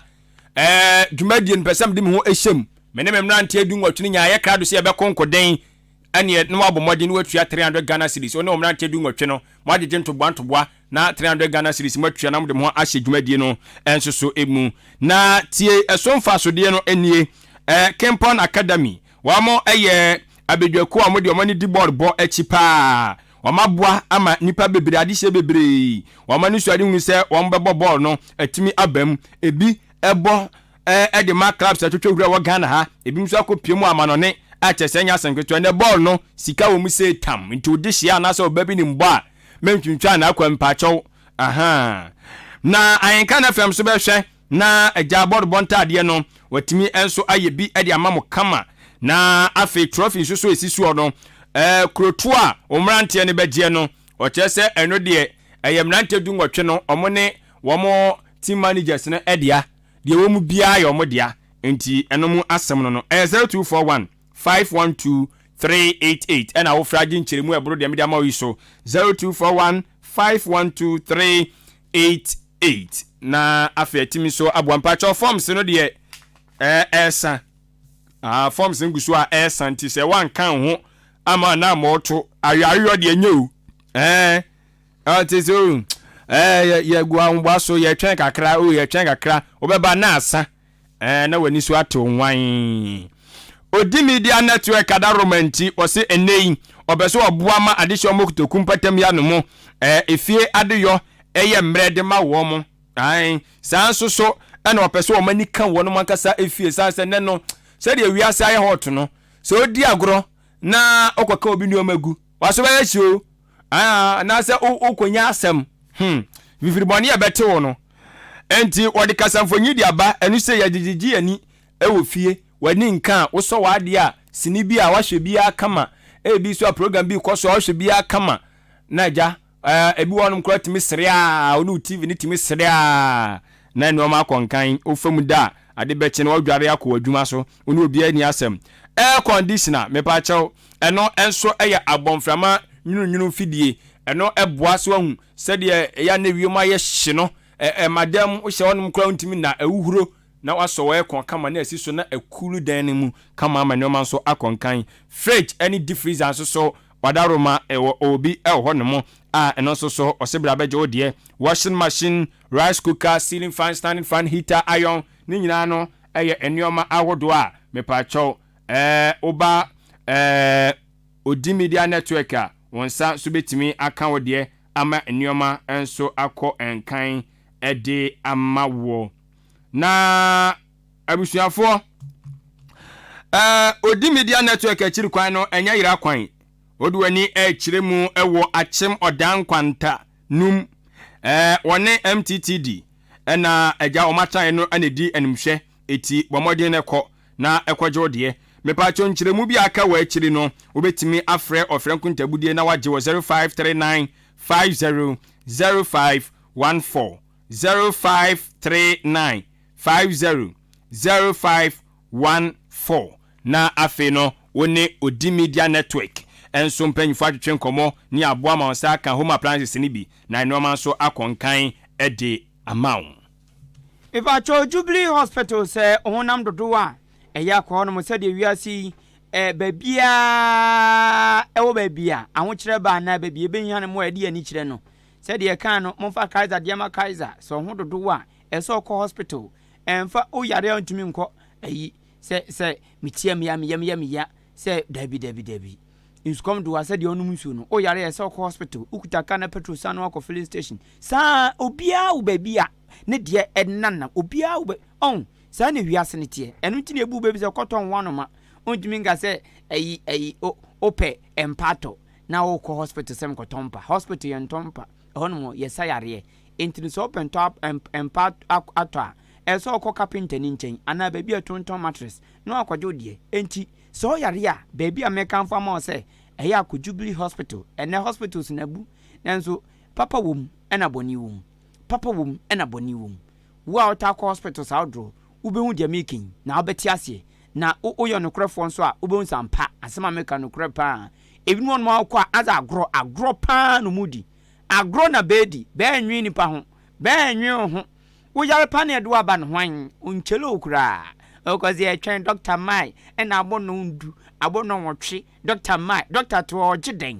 eh, dwumadie no pɛ sɛ mede me ho hyɛ mu, me ne me mmeranteɛ du-nwɔtwe no nyinaa yɛkra do sɛ yɛbɛko nkoden, ɛneɛ na wabɔ mmɔden na watua 300 Ghana cedis, wo ne wo mmeranteɛ du nwɔtwe no moagyegye ntoboa ntoboa na 300 Ghana cedis moatua na mode mo ho ahyɛ dwumadie no nso so mu. Na tie ɛso mfasodeɛ no nie, Kempon Academy, wɔn yɛ abadwakuo a wɔn deɛ wɔn ani di bɔɔl bɔ akyi paa, wɔn aboa ama nnipa bebree, adehyeɛ bebree, wɔn ani so adehunu sɛ wɔn bɛbɔ bɔɔl no atumi aba mu, ɛbi bɔ eh, de ma clubs a ɛtwetwe hura wɔ Ghana ha, ebinom nso akɔpue mu amanɔne a kyerɛ sɛ ɛnyɛ asɛm ketewa. Ɛnnɛ bɔɔl no, sika wɔ mu sei tam, nti wo de hyia anaasɛ ɔba bi nim bɔ a, mentwentwaa n'akwan mpaakyɛw, ahaa. Na Ahenka no FM nso bɛhwɛ na agyaa bɔɔl bɔ ntaadeɛ no, watumi nso ayɛ bi de ama mo kama. Na afei trɔfi nso so ɛsi soɔ no, eh, kurotoɔ a wo mmeranteɛ no bɛgyeɛ no, ɔkyerɛ sɛ ɛno deɛ ɛyɛ mmeranteɛ du nwɔtwe no, wɔn ne wɔn team managers no dea. Deɛ ɛwɔ mu biara yɛ wɔn dea, enti ɛno mu asɛm no no, ɛyɛ 0241 512 388, ɛna wofrɛ agye nkyerɛmu a ɛboro deɛ mede ama wo yi so, 0241 512 388, na afei atumi nso aboa. Mpakyɛw forms no deɛ ɛresa, ah, forms no gu so a ɛresa, nti sɛ woanka ho ama na ama ɔto ayoayoyɔ deɛ nyɛ o, ɛɛ. Ɔte sɛ o, ɛɛ yɛ yɛ gu ahoboa so, yɛtwɛn kakra, o yɛtwɛn kakra, wobɛba na asa, ɛɛ na w'ani so atew nwann. Odi media network kada Roma nti, ɔse ɛnnɛ yi, ɔpɛ sɛ ɔboa ma adesua wɔn kotoku mpɔtam yi ano mo, ɛɛ efie adeyɔ yɛ mmerɛ de ma wɔn. Ae, saa nso so na ɔpɛ sɛ wɔn ani ka wɔn ankasa efie, san sɛ nnɛ no, sɛdeɛ wiase ayɛ hot no, sɛ odi agorɔ na ɔkɔka obi nneɛma gu, w'aso bɛyɛ hye o. Ah, anaasɛ wo wokonya asɛm. Hmm, fifiri bɔne a ɛbɛte wo no. Enti wɔde kasamfonyi de aba, ɛno sɛ yɛde gyegye yɛn ani wɔ fie, w'ani nka a, wosɔ w'adeɛ a, sini bi a woahwɛ biara kama, ebi nso a program bi rekɔ so a wohwɛ biara kama. Na agya, ah, ebi wɔ hɔnom koraa tumi sere a, wo ne wo TV no tumi sere a, na nneɛma akɔ nkan, wofa mu da a, ade bɛkye no woadware akɔ w'adwuma so, wo ne obiara nni asɛm. Air conditioner, mepa kyɛw, Ɛno nso yɛ abɔmframa nwununwunu mfidie. Ɛno boa so ahu sɛdeɛ ɛyɛ a na wiem ayɛ hye no. Ɛma dan mu hyɛ hɔnom koraa wontumi nna, ɛhohuro na wasɔ wɔ aircon kama na asi so na ɛkuulu dan no mu kama ama nnoɔma nso akɔ nkan. Fridge ne deep freezer nso so wadaworo ma ɛwɔ obi wɔ hɔnom a ɛno nso so ɔse bra bɛgye wo deɛ. Washing machine, rice cooker, ceiling fan, standing fan, heater, iron ne nyinaa no yɛ nnoɔma ahodoɔ a mepaakyɛw Eh, wo ba eh, odi media network a, wo nsa nso bɛtumi aka wo deɛ ama nneɛma nso akɔ nkan de ama woɔ. Na abusuafoɔ, eh, odi media network akyiri kwan no, ɛnyɛ yera kwan. Wode w'ani rekyerɛ mu wɔ akyem ɔdan nkwanta no mu. Eh, wɔne MTTD na agya wɔn atraeɛ no na ɛdi animhwɛ, eti bɔ mmɔden kɔ na ɛkɔgye wo deɛ. Mepaakyɛw nkyerɛmu bi a aka wɔ akyiri no, wobɛtumi afrɛ ɔfrɛ nkontaabudiɛ na wɔagye wɔ 0539 50 0514, 0539 50 0514, na afei no wo ne Odi Media Network nso mpanyinfoɔ atwetwe nkɔmmɔ ne aboa ma wo nsa aka home appliances no bi na nnoɔma nso akɔ nkan de ama wo. Mepakyɛ o Jubilee hospital sɛ honam dodow a ɛyɛ akɔ hɔ nom sɛdeɛ wiase yi eh, baabiaa ɛwɔ baabi a ahokyerɛ ba anaa baabi ɛbɛhia no mo a ɛde ani kyerɛ no sɛdeɛ ɛkaa no momfa Kaiser deɛ ma Kaiser sɛ ɔho dodow a ɛsɛ ɔkɔ hospital ɛmfa o yare a ɔntumi nkɔ ayi sɛ sɛ metia meya meya meya meya Sɛ, Dabi, dabi, dabi. Nsukɔm de wo a, sɛdeɛ wonom nsuo no, woyare a, ɛsɛ sɛ wokɔ hospital, wokuta car na petrol san no akɔ filling station. Saa ara, obiara wɔ baabi a ne deɛ ɛnenanam. Obiara wɔ baabi, ɔho. Saa na wiase no teɛ. Ɛno nti na ebu wo bɛ bi sɛ, kɔtɔ nhoano ma. Wontumi nka sɛ, ayi, ayi, o, wopɛ mpa atɔ, na wokɔ hospital sɛ mekɔtɔ mpa. Hospital yɛntɔ mpa. Ɛhɔnom no, yɛsa yareɛ. Enti no, sɛ wopɛ ntɔ, mpa atɔ a, ɛsɛ sɛ wokɔ kapentani nkyɛn, anaa baabi a ɛtontɔn mattress, No akwadwo wo deɛ. Enti, sɛ ɔyare a, baabi a mɛkamfo ama wo sɛ ɛyɛ a kɔ Jubilee Hospital. Ɛnnɛ hospitals no abu, nanso papa wɔ mu ɛna bɔne wɔ mu. Papa wɔ mu ɛna bɔne wɔ mu. Wo a wotaa kɔ hospitals ahodoɔ, wobɛhu deɛ mereka yi, na wobɛte aseɛ. Na wo woyɛ ɔnokorɛfoɔ nso a, wobɛhu sɛ ampa, asɛm a mereka no nokorɛ pa ara. Ebinom wɔ hɔnom a wokɔ a, adze agorɔ, agorɔ pa ara na wɔredi. Agorɔ na bɛredi. Bɛrennwen nnipa ho. Bɛrennwen wo ho. Wo yar pa no ɛdo aba no hwan onkyele wo koraa ɔkɔ dze ɛtwɛn doctor mae ɛna abɔnɔn ndu abɔnɔn nwɔtwe doctor mae doctor to ɔɔgye dɛn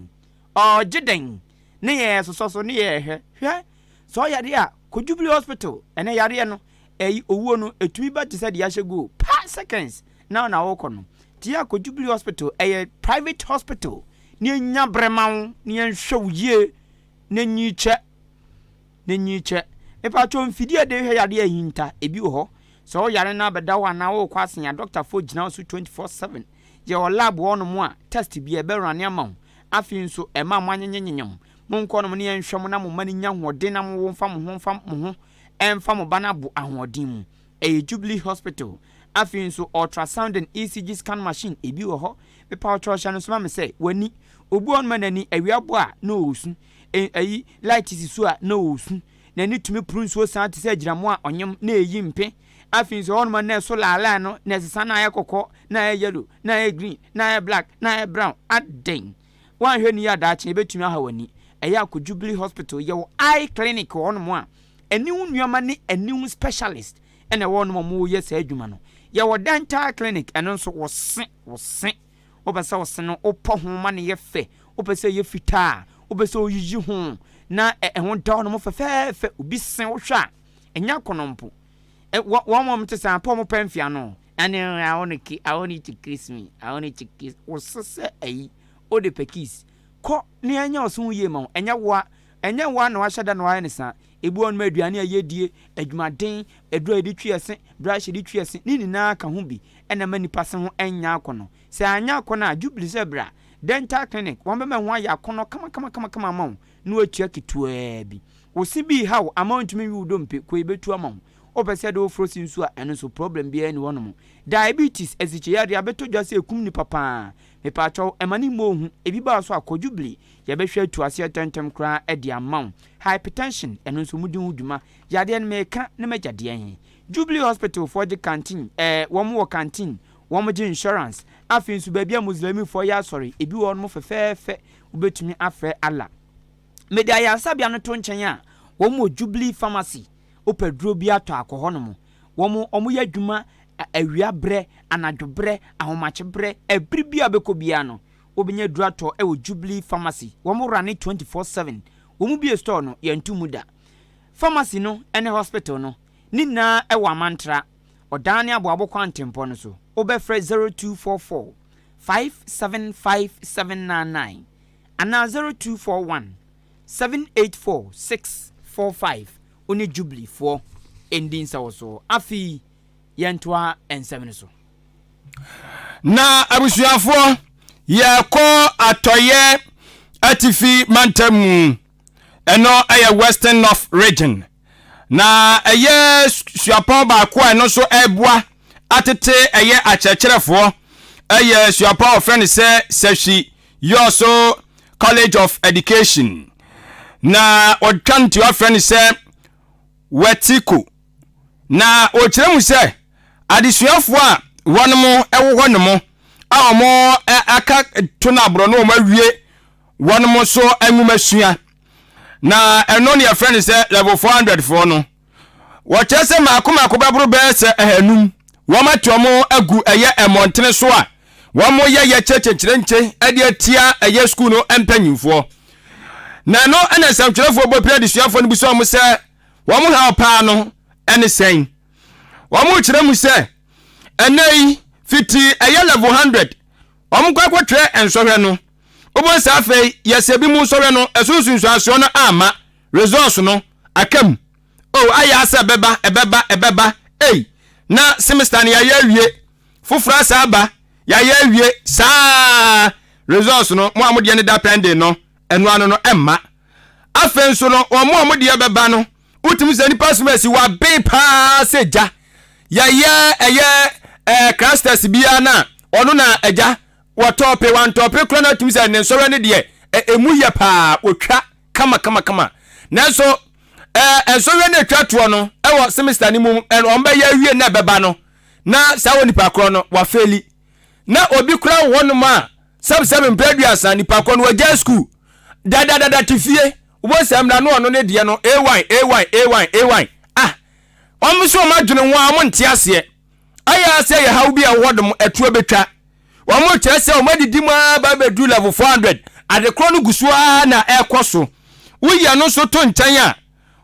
ɔɔgye dɛn ne yɛ ɛsosɔ so ne yɛ ɛhwɛ hwɛ sɛ ɔyare a kɔ jubilee hospital ɛnɛ yareɛ no ɛyi owuo no ɛtumi ba tesɛ deɛ ahyɛ guo pa seconds na na wokɔ no nti yɛ kɔ jubilee hospital ɛyɛ private hospital ne ɛnya brɛ ma wo ne yɛnhwɛ wo yie na nyi kyɛ. N'enyi kyɛ. Epatsɔ, mfidie a yɛde hwɛ yadeɛ a ehinta, ebi wɔ hɔ? Sɛ wo yare no abɛda hɔ anaa worekɔ asen a, dɔktafoɔ gyina wo so twenty four seven. Yɛwɔ lab wɔ hɔnom a, test biara, ɛbɛrane ama wo. Afei nso, ɛmma moanyenyenyenyem. Monkɔ hɔnom na yɛnhwɛ mo na mo mma no nnya ahoɔden na mo mfa mo ho mfa mo ho mfa mo ba no abo ahoɔden mu. Ɛyɛ Jubilee Hospital. Afei nso, ultrasound and ECG scan machine, ebi wɔ hɔ? Mepatsɔ hyɛ no nso ma me sɛ, w'ani. Obi wɔ hɔnom a n'ani, awia bɔ a, na ɔresu. e, ayi, light si so a, na ɔresu. N'ani tumi poro nsuo saa te sɛ agyinamoa a ɔnyem, na ɛreyi mpe. Afei nso ɛhɔnom a na ɛso laalaan no, na ɛsesa na ayɛ kɔkɔɔ, na ayɛ yellow, na ayɛ green, na ayɛ black, na ayɛ brown. Adɛn! Woanhwɛ no yie a daakye ɛbɛtumi aha w'ani. Ɛyɛ a kɔ Jubilee Hospital, yɛwɔ eye clinic wɔ hɔnom a ani ho nneɛma ne ani ho specialist na ɛwɔ hɔnom a wɔyɛ saa adwuma no. Yɛwɔ dental clinic, ɛno nso, wo se, wo se. Wopɛ sɛ ɔse no wopɔ ho ma no yɛ fɛ, wopɛ sɛ ɛyɛ fitaa, wopɛ sɛ woyiyi ho na ɛho da wɔn fɛfɛɛfɛ. Obi se wo hwɛ a, ɛnyɛ akɔnnɔ mpo. Wɔn a wɔte saa mpo, wɔpɛ mfe ano. Ɛne I want to, I want you to kiss me, I want you to kiss. Wo se sɛ ayi, wode pɛ kiss. Kɔ na yɛnyɛ wo so ho yie ma wo. Ɛnyɛ wo a, ɛnyɛ wo a na wahyɛ da na wayɛ no saa. Ebi wɔ hɔ nom a aduane a yɛdie, adwumaden, aduro a yɛde twi ɛse, brush a yɛde twi ɛse, ne nyinaa ka ho bi na ɛma nipa se ho nyɛ akɔnɔ. Sɛ anyɛ akɔnɔ a, Jubilee sɛ bra dental clinic, wɔn bɛma ɛho ayɛ akɔnɔ kamakama ama wo na wɔatua ketewa bi. Wo se bi reha wo ama wontumi nwe wo dompe, kɔ yɛbɛtu ama wo. Wopɛ sɛ yɛde wo foro se nso a, ɛno nso problem biara nni hɔ nom. Diabetes, asikyeyareɛ, abɛtɔ dwa sɛ ɛkum nipa pa ara. Mepaakyɛw, mma ne mmɔ wo hu, ebi ba wo so a, kɔ Jubilee, yɛbɛhwɛ atu aseɛ tɛntɛm koraa de ama wo. Hypertension, ɛno nso wɔdi ho dwuma. Yadeɛ no meka ne m'agya deɛ he. Jubilee hospital foɔ gye canteen, ɛɛ wɔn wɔ canteen, wɔn gye insurance. Afei nso baabi a Muslimifoɔ yɛ asɔre, ebi wɔ hɔ nom fɛfɛɛfɛ, wobɛtumi afrɛ Allah. Mede ayaresabea no to nkyɛn a, wɔn wɔ Jubilee pharmacy, wopɛ duro bi a tɔ a kɔ hɔ nom. Wɔn, wɔn yɛ adwuma awia berɛ, anadwo berɛ, ahomakye berɛ, ɛbere biara a wobɛkɔ biara no, Wobenya aduratɔ wɔ Jubilee Pharmacy, wɔn wora ne twenty four seven, wɔn bue store no, yɛnto mu da. Pharmacy no ne hospital no, ne nyinaa wɔ Amantra, Ɔdan ne Aboabo kwan ntempɔn no so. Wobɛfrɛ zero two four four, five seven five seven nine nine anaa zero two four one, seven eight four six four five, wo ne Jubilee foɔ ndi nsawɔsoɔ. Afei yɛntoa nsɛm no so. Na abusuafoɔ, yɛrekɔ atɔeɛ atifi mantam mu. Ɛno yɛ Western North Region. Na ɛyɛ suapɔn baako a ɛno nso ɛreboa atete ɛyɛ akyerɛkyerɛfoɔ. Ɛyɛ suapɔn a wɔfrɛ no sɛ Sɛhwi Yɔɔso College of Education. Na wɔtwa no ti wɔfrɛ no sɛ Wetiko Na ɔkyerɛ mu sɛ adesuafoɔ a wɔnom wɔ hɔ nom a wɔn aka to no aborɔ no wɔn awie wɔnom so nwomasua na ɛno ne yɛfrɛ no sɛ level 400 foɔ no wɔkyerɛ sɛ maako maako bɛboro bɛyɛ sɛ ahanum wɔn ate wɔn agu ɛyɛ mmɔntene so a wɔn yɛ yɛ kyerɛkyerɛkyerɛnkye ɛde atia ɛyɛ sukuu no mpanyinfoɔ na ɛno ɛna nsɛmtwerɛfoɔ bɔ pira adesuafoɔ no bi sɛ wɔn sɛ Wɔn haw paa no ne sɛn? Wɔkyerɛ mu sɛ, Ɛnnɛyi, fiti ɛyɛ level hundred, wɔkɔ akɔtwerɛ nsɔhwɛ no, wobɛhu sɛ afei yɛsɛ binom nsɔhwɛ no, ɛso nsunsuansoɔ no amma, results no aka mu. Oh, ayɛ ara sɛ ɛbɛba, ɛbɛba, ɛbɛba, ei, na semester no yɛayɛ awie, foforɔ asan aba, yɛayɛ awie, saa ara, results no, mo a modeɛ no da pending no, Ɛno ano no ɛmma. Afei nso no wɔn a wɔn deɛ bɛba no wotumi sɛ nipa som asi waben paa sɛ gya yɛyɛ ɛyɛ ɛɛ krastɛs biara na ɔno na ɛgya wɔtɔɔpe wantɔɔpe kora na atumi sɛ ne nsɔre no deɛ ɛmu yɛ paa wɔtwa kama kama kama nanso ɛɛ nsɔre no atwa toɔ no ɛwɔ semester no mu wɔn bɛyɛ awie na ɛbɛba no na saa wɔ nipa korɔ no wafeeli. na obi kora wɔ hɔnom a sɛbsɛb mpɛ aduasa nipa kɔ no wagyae sukuu dadadada te fie wobɔ sɛ mmra no ɔno ne deɛ no ay ay ay ay ah ɔmo so ɔmo adwene ho a ɔmo nte aseɛ ayɛ asɛ yɛ haw bi a ɛwɔ nom ɛtoɔ bɛtwa ɔmo kyerɛ sɛ ɔmo adidi mu a ba bɛduru level 400 adekorɔ no gu so a na ɛkɔ so woyɛ no nso to nkyɛn a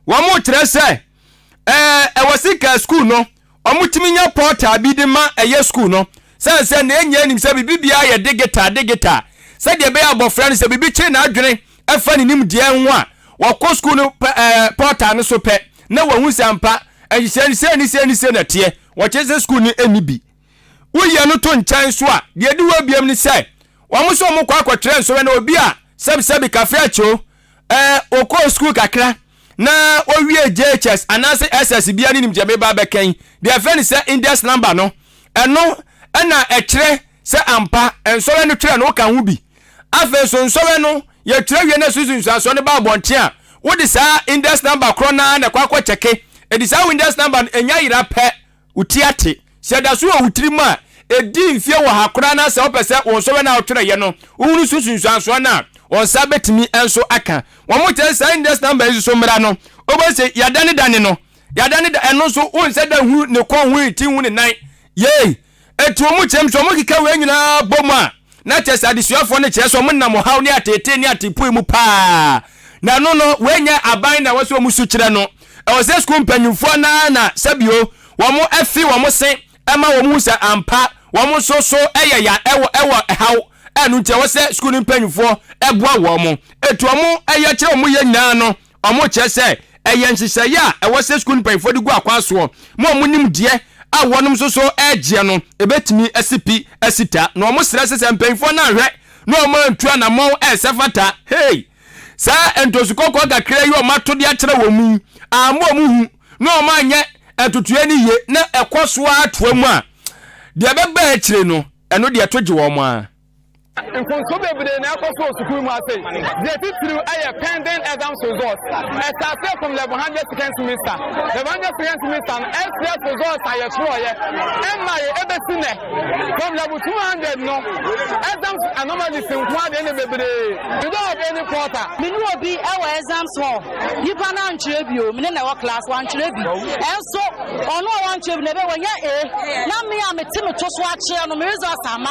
wɔn kyerɛ sɛ ɛɛ ɛwɔ sika sukuu no Wɔtumi nya pɔtaa bi de ma ɛyɛ sukuu no, sane sɛ nea nyinaa nim sɛ biribi biara yɛ digital digital, sɛdeɛ ɛbɛyɛ abɔfra no sɛ biribi kyere n'adwene fa ne nimdeɛ ho a, wakɔ sukuu no pɔtaa no so pɛ na wahu sɛ ampa nhyehyɛe no sei ne sei ne sei na ɛteɛ. Wɔkyerɛ sɛ sukuu no nni bi. Woyi ɛno to nkyɛn nso a, deɛ ɛdi hɔ biom ne sɛ, wɔn nso wɔkɔ akɔtwerɛ nsɔhwɛ na obi a sɛbisɛbi kafeakyoo Ɔkɔɔ sukuu kakra na ɔwiee JHS anaasɛ SS bia ne nim deɛ meba abɛka yi. Deɛ ɛfɛ ne sɛ index number no, ɛno ɛna ɛkyerɛ sɛ ampa nsɔwɛ no twerɛ no woka ho bi. Afei nso nsɔwɛ no yɛtwerɛ wie na susu nsuansoɔ no ba abɔnten a, wode saa index number korɔ no ara na ɛkɔ akɔ kyɛke. Ɛdi saa wo index number no ɛnya yera pɛ. Wo ti ate. Sɛ ɛda so wɔ wo tirim a, ɛdi mfeɛ ɔha koraa na sɛ wopɛ sɛ wo nsɔhwɛ no a wotwerɛeɛ no, wohunu so nsunsuansoɔ no a, wo nsa bɛtumi nso aka. Wɔkyerɛ saa index number yi nso so mmara no, wobɛhu sɛ yɛadanedane no. Yɛadane da, ɛno nso wonhyɛ da nhunu ne kɔn ho, ne ti ho, ne nan. Yei. Enti wɔkyerɛm sɛ wɔkeka wei nyinaa bɔ mu a, Na kyerɛ sɛ adesuafoɔ no kyerɛ sɛ wɔnam ɔhaw ne ateetee ne ateepoe mu paa. Na ɛno no, wei nyɛ aban na ɛwɔ sɛ wɔn su kyerɛ no. Ɛwɔ sɛ sukuu mpanimfoɔ no ara na sɛbio wɔfi wɔn se ma wɔn hu sɛ ampa wɔn nso so yɛ ya wɔ wɔ haw a ɛno nti ɛwɔ sɛ sukuu no mpanimfoɔ boa wɔn. Enti wɔn yɛ kyerɛ wɔn yɛ nyinaa no, Wɔkyerɛ sɛ ɛyɛ nhyehyɛeɛ a ɛwɔ sɛ sukuu no mpanyinfoɔ de gu akwan soɔ ma wɔn nimdeɛ a wɔnom nso so regyeɛ no bɛtumi asi pi asi ta na wɔsrɛ sɛ sɛ mpanyinfoɔ no anhwɛ na wɔn antu anamɔn a ɛsɛ fata hei saa ntosu kɔkɔɔ kakra yi wɔn ato de akyerɛ wɔn yi amma wɔn hu na wɔn anyɛ ɛtotoɛ no yie na ɛkɔ so ara toa mu a deɛ ɛbɛba akyire no ɛno deɛ ɛto gye wɔn ara. Nkɔnso bebree na ɛkɔ so wɔ sukuu mu ase. Deɛ titiriw yɛ pending exams results. Ɛstartee from level hundred second semester. Level hundred second semester no SPF results a yɛtwerɛeɛ ɛmmaeɛ ɛbɛsi nnɛ. From level two hundred no exams anomalies nko ara deɛ na bebree. We don't have any portal. Me ne obi wɔ exams hall, nipa no antwerɛ bi o, me ne no wɔ class, wantwerɛ bi. Ɛnso ɔno a wantwerɛ bi no ɛbɛyɛ wanya A, na me a mete me to so akyerɛ no me results ama.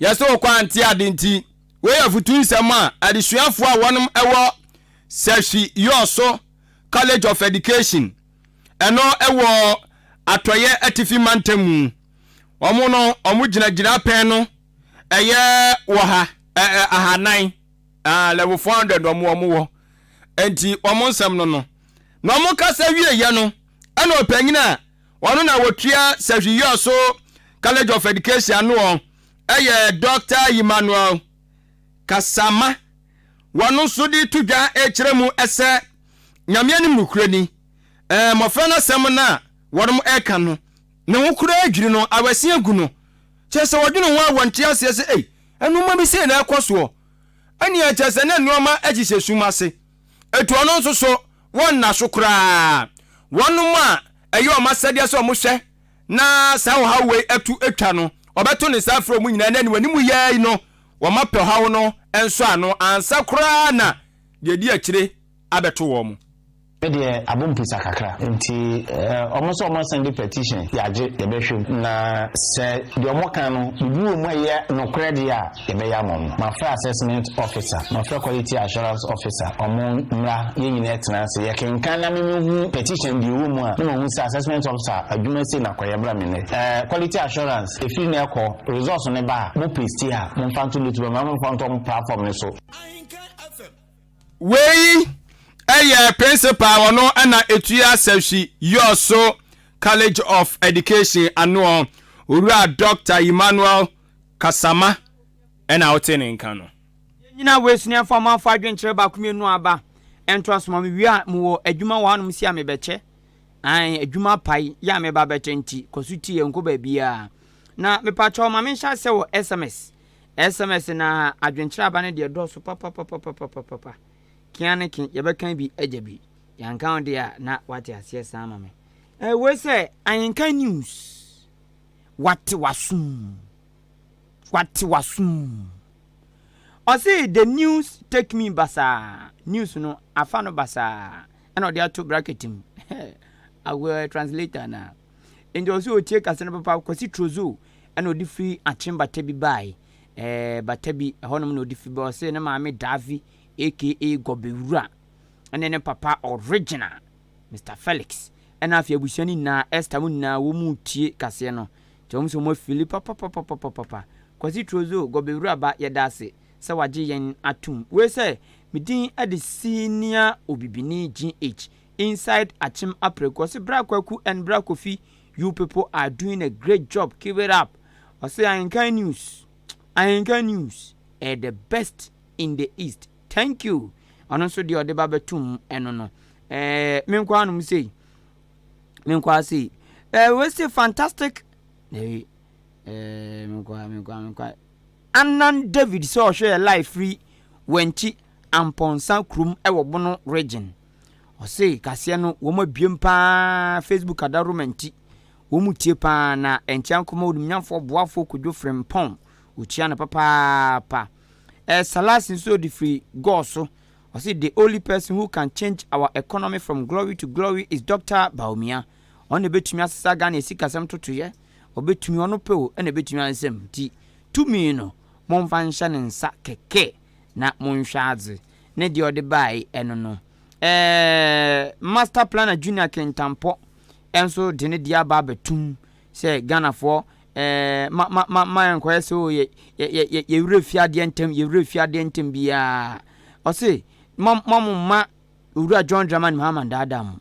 Yɛsɛ ɔkɔ a nte ade nti. Wei yɛ afotu nsɛm a adesuafoɔ a wɔnom wɔ Serhii Yosso College of Education, ɛno wɔ Atɔeɛ Atifi Mantam mu. Wɔn no wɔn gyina gyinapɛn no ɛyɛ wɔ ha, ɛ, ɛ, ahanan, ah, level 400 wɔn wɔn wɔ. Ɛnti wɔn nsɛm no no. Na wɔn kasa wieɛ no, ɛna ɔpanyin a Ɔno na ɔtua Sahwiyɔ so College of Education ano ɔ yɛ Doctor Emmanuel Kasama wɔno nso de to dwa rekyerɛ mu sɛ Nyame anim nokorɛ ni ɛɛ mmɔfra no asɛm no a wɔnom reka no ne ho koraa dwiri no awɛse agu no kyerɛ sɛ ɔdwene ho a wɔnte aseɛ sɛ ei nnoɔma bi sei na ɛrekɔ soɔ ɛnneɛ kyerɛ sɛ na nnoɔma hyehyɛ sum ase. Enti ɔno nso so wɔnna so koraa. Wɔnom a ɛyɛ wɔn asɛdeɛ sɛ wɔhwɛ na saa ɔhaw wei atu atwa no, wɔbɛto ne nsa afrɛ wɔn nyinaa na aniwani mu yɛ yi no wɔapɛ ɔhaw no nsɔ ano ansa koraa na deɛ ɛdi akyire abɛto wɔn. Me deɛ abom pusa kakra nti wɔn sɛ wɔn sɛnde petition yɛagye yɛbɛhwɛ mu na sɛ deɛ wɔka no biribi wɔ mu a ɛyɛ nokorɛ deɛ a, yɛbɛyɛ ama ɔmo. Mafrɛ assessment officer, mafrɛ quality assurance officer, ɔmo mmra yɛn nyinaa ɛtena ase yɛ kenkan na me me hu petition deɛ ɛwɔ mu a na mahu sɛ assessment officer adwuma sei na kɔ yɛ bra me nnɛ. Ɛɛ quality assurance ɛfiri nnɛ kɔ results no ba a mo paste a mo mfa nto loot bɛma mo mfa nto ɔmo platform no so. Wei yɛ principal ɔno na ɛtua Sɛhwi Yɔɔso College of Education anoɔ, Owura Doctor Emmanuel Kasama na wotee ne nka no. Yɛn nyinaa wɔ esuneɛ mfa ma mfa adwenkyerɛ baako mienu aba ntoa so ma me wie a mewɔ adwuma wɔ hanom si a mebɛkyɛ ae adwuma apae yɛ a meba bɛkyɛ nti kɔ so tie yɛn nkɔ baabiaa na mepa kyɛw ma me nhyɛ asɛ wɔ sms sms na adwenkyerɛ aba no deɛ dɔɔso papapapapapapa kea ne ke yɛbɛkan bi agya bi yɛanka wo deɛ a na wate aseɛ saa ma me eh, wei sɛ ahenkan news. Wate w'asom. Wate w'asom. Ɔse the news take me basaa, news no afa no basaa ɛna ɔde ato bracket mu. Awɔ translator na. Nti ɔse otie kasa no papa Kwasi Trozo ɛna ɔde firi Akyem bata bi bae. Eh, bata bi ɛhɔnom na ɔde fi ba ɔse ne maame Davi aka Gɔbewura ɛne ne papa original Mister Felix ɛna afei abusua no nyinaa Esther mo nyinaa wɔ mu retie kaseɛ no kyɛ wɔn sɛ wɔn afili papapapapapapa Kwasi Trozo Gɔbewuraba yɛda ase sɛ wagye yɛn atom wei sɛ me din de Senior Obibini GH inside Akyem Apraku ɔse Bra Kwaku and Bra Kofi you people are doing a great job keep it up ɔse Ahenkan News Ahenkan News ɛyɛ the best in the East. Thank you ɔno nso deɛ ɔde ba bɛtum ɛno no ɛɛ me nkwaa nom sei me nkwaa sei ɛɛ wei se fantastic ɛɛ ɛɛ me nkwaa me nkwaa me nkwaa anan david sɛ ɔhwɛ yɛ live firi wɔnkyi ampɔnsa kurom ɛwɔ bono region ɔse kaseɛ no wɔn abiem paa facebook adaroma nti wɔn tie paa na ɛnkyɛn kɔma onimnyamfoɔ boafoɔ kodwo frempɔn ɔkyia no papaapa Ɛɛ Salasi nso ɔde firi Gor so, ɔse the only person who can change our economy from glory to glory is Doctor Bawumia, ɔno na ɛbɛtumi asesa Ghana asikasɛm ntotoeɛ, ɔbɛtumi, ɔno pɛ o, ɛna ɛbɛtumi ayɛ nsɛm, nti tumi no momfa nhyɛ ne nsa kɛkɛ na monhwɛ adze, ne deɛ ɔde baeɛ ɛno no. Ɛɛ Master Planner Junior Kintampɔ nso de ne deɛ aba abɛtom sɛ Ghanafoɔ Ɛɛ, ma, ma, ma ɛnkɔyɛ sɛ, o, yɛ, yɛ, yɛ, yɛ, yɛ werɛ fi adeɛ ntɛm, yɛ werɛ fi adeɛ ntɛm biara. Ɔse, Mo, mo, mo mma Owura John Dramani Mahama nnaadaa mo.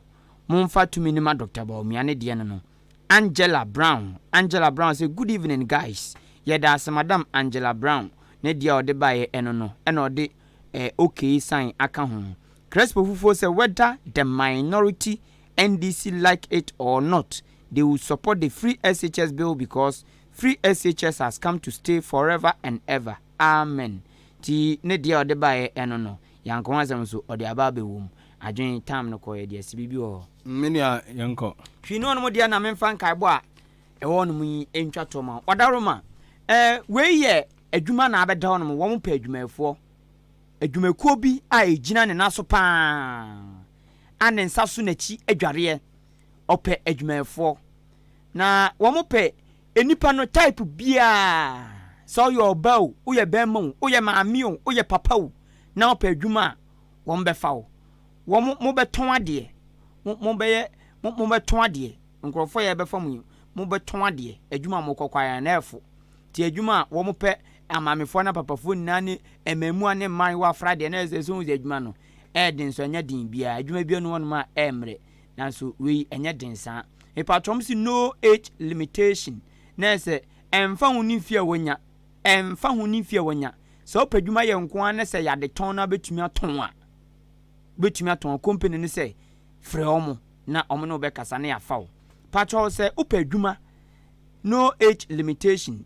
Momfa tumi no ma Doctor Bawumia ne deɛ no no. Angela Brown, Angela Brown se, Good evening, guys. Yɛda ase, Madam Angela Brown, ne deɛ a ɔde baeɛ ɛno no, ɛna ɔde, ɛɛ, okay sign aka ho. Crespo Fufuo se, Whether the minority NDC like it or not they will support the free SHS bill because free SHS has come to stay forever and ever amen nti ne deɛ ɔde baeɛ ɛno no yɛanka ho asɛm nso ɔde aba abɛwɔ mu adwen time no kɔeɛ deɛ sɛ biribi wɔ hɔ Me nua yɛnkɔ. Twi ne ɔnom deɛ na memfa nkaebɔ a ɛwɔ ɔnom yi ntwa toɔ ma wo. Ɔdaworo ma, eh, wei yɛ adwuma na abɛda ɔnom, wɔn pɛ adwumayɛfoɔ. Adwumakuo bi a ɛgyina ne nan so pa ara a ne nsa so n'akyi adwareɛ, ɔpɛ adwumayɛfoɔ. Na wɔpɛ nnipa no type biara, sɛ woyɛ ɔbaa o, woyɛ barima o, woyɛ maame o, woyɛ papa o, na wopɛ adwuma a, wɔbɛfa wo. Wɔn, mobɛtɔn adeɛ, mo, mobɛyɛ, mo, mobɛtɔn adeɛ. Nkurɔfoɔ a yɛbɛfa mo yi, mobɛtɔn adeɛ. Adwuma a mokɔ koraa, na ɛfo. Nti adwuma a wɔpɛ Amaamefoɔ ne apapafoɔ nyinaa ne mmɛɛmua ne mmaayewa afra deɛ na ɛsɛ sɛ wohu sɛ adwuma no ɛyɛ den nso ɛnyɛ den biara adwuma biara ni hɔnom a ɛmmrɛ nanso wei ɛnyɛ den saa mepaatwɔ ɔmo se no age limitation na ɛsɛ ɛmfa ho ne mfie a wanya ɛmfa ho ne mfie a wanya sɛ wopɛ adwuma yɛ nko ara ne sɛ yɛade tɔn no abɛtumi atɔn a wobɛtumi atɔn a company no sɛ frɛ ɔmo na ɔmo ne wobɛkasa na yɛafa wo paatwɔ sɛ wopɛ adwuma no age limitation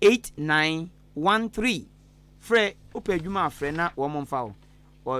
8913 Frɛ, Wopɛ adwuma a frɛ na wɔmfa wo.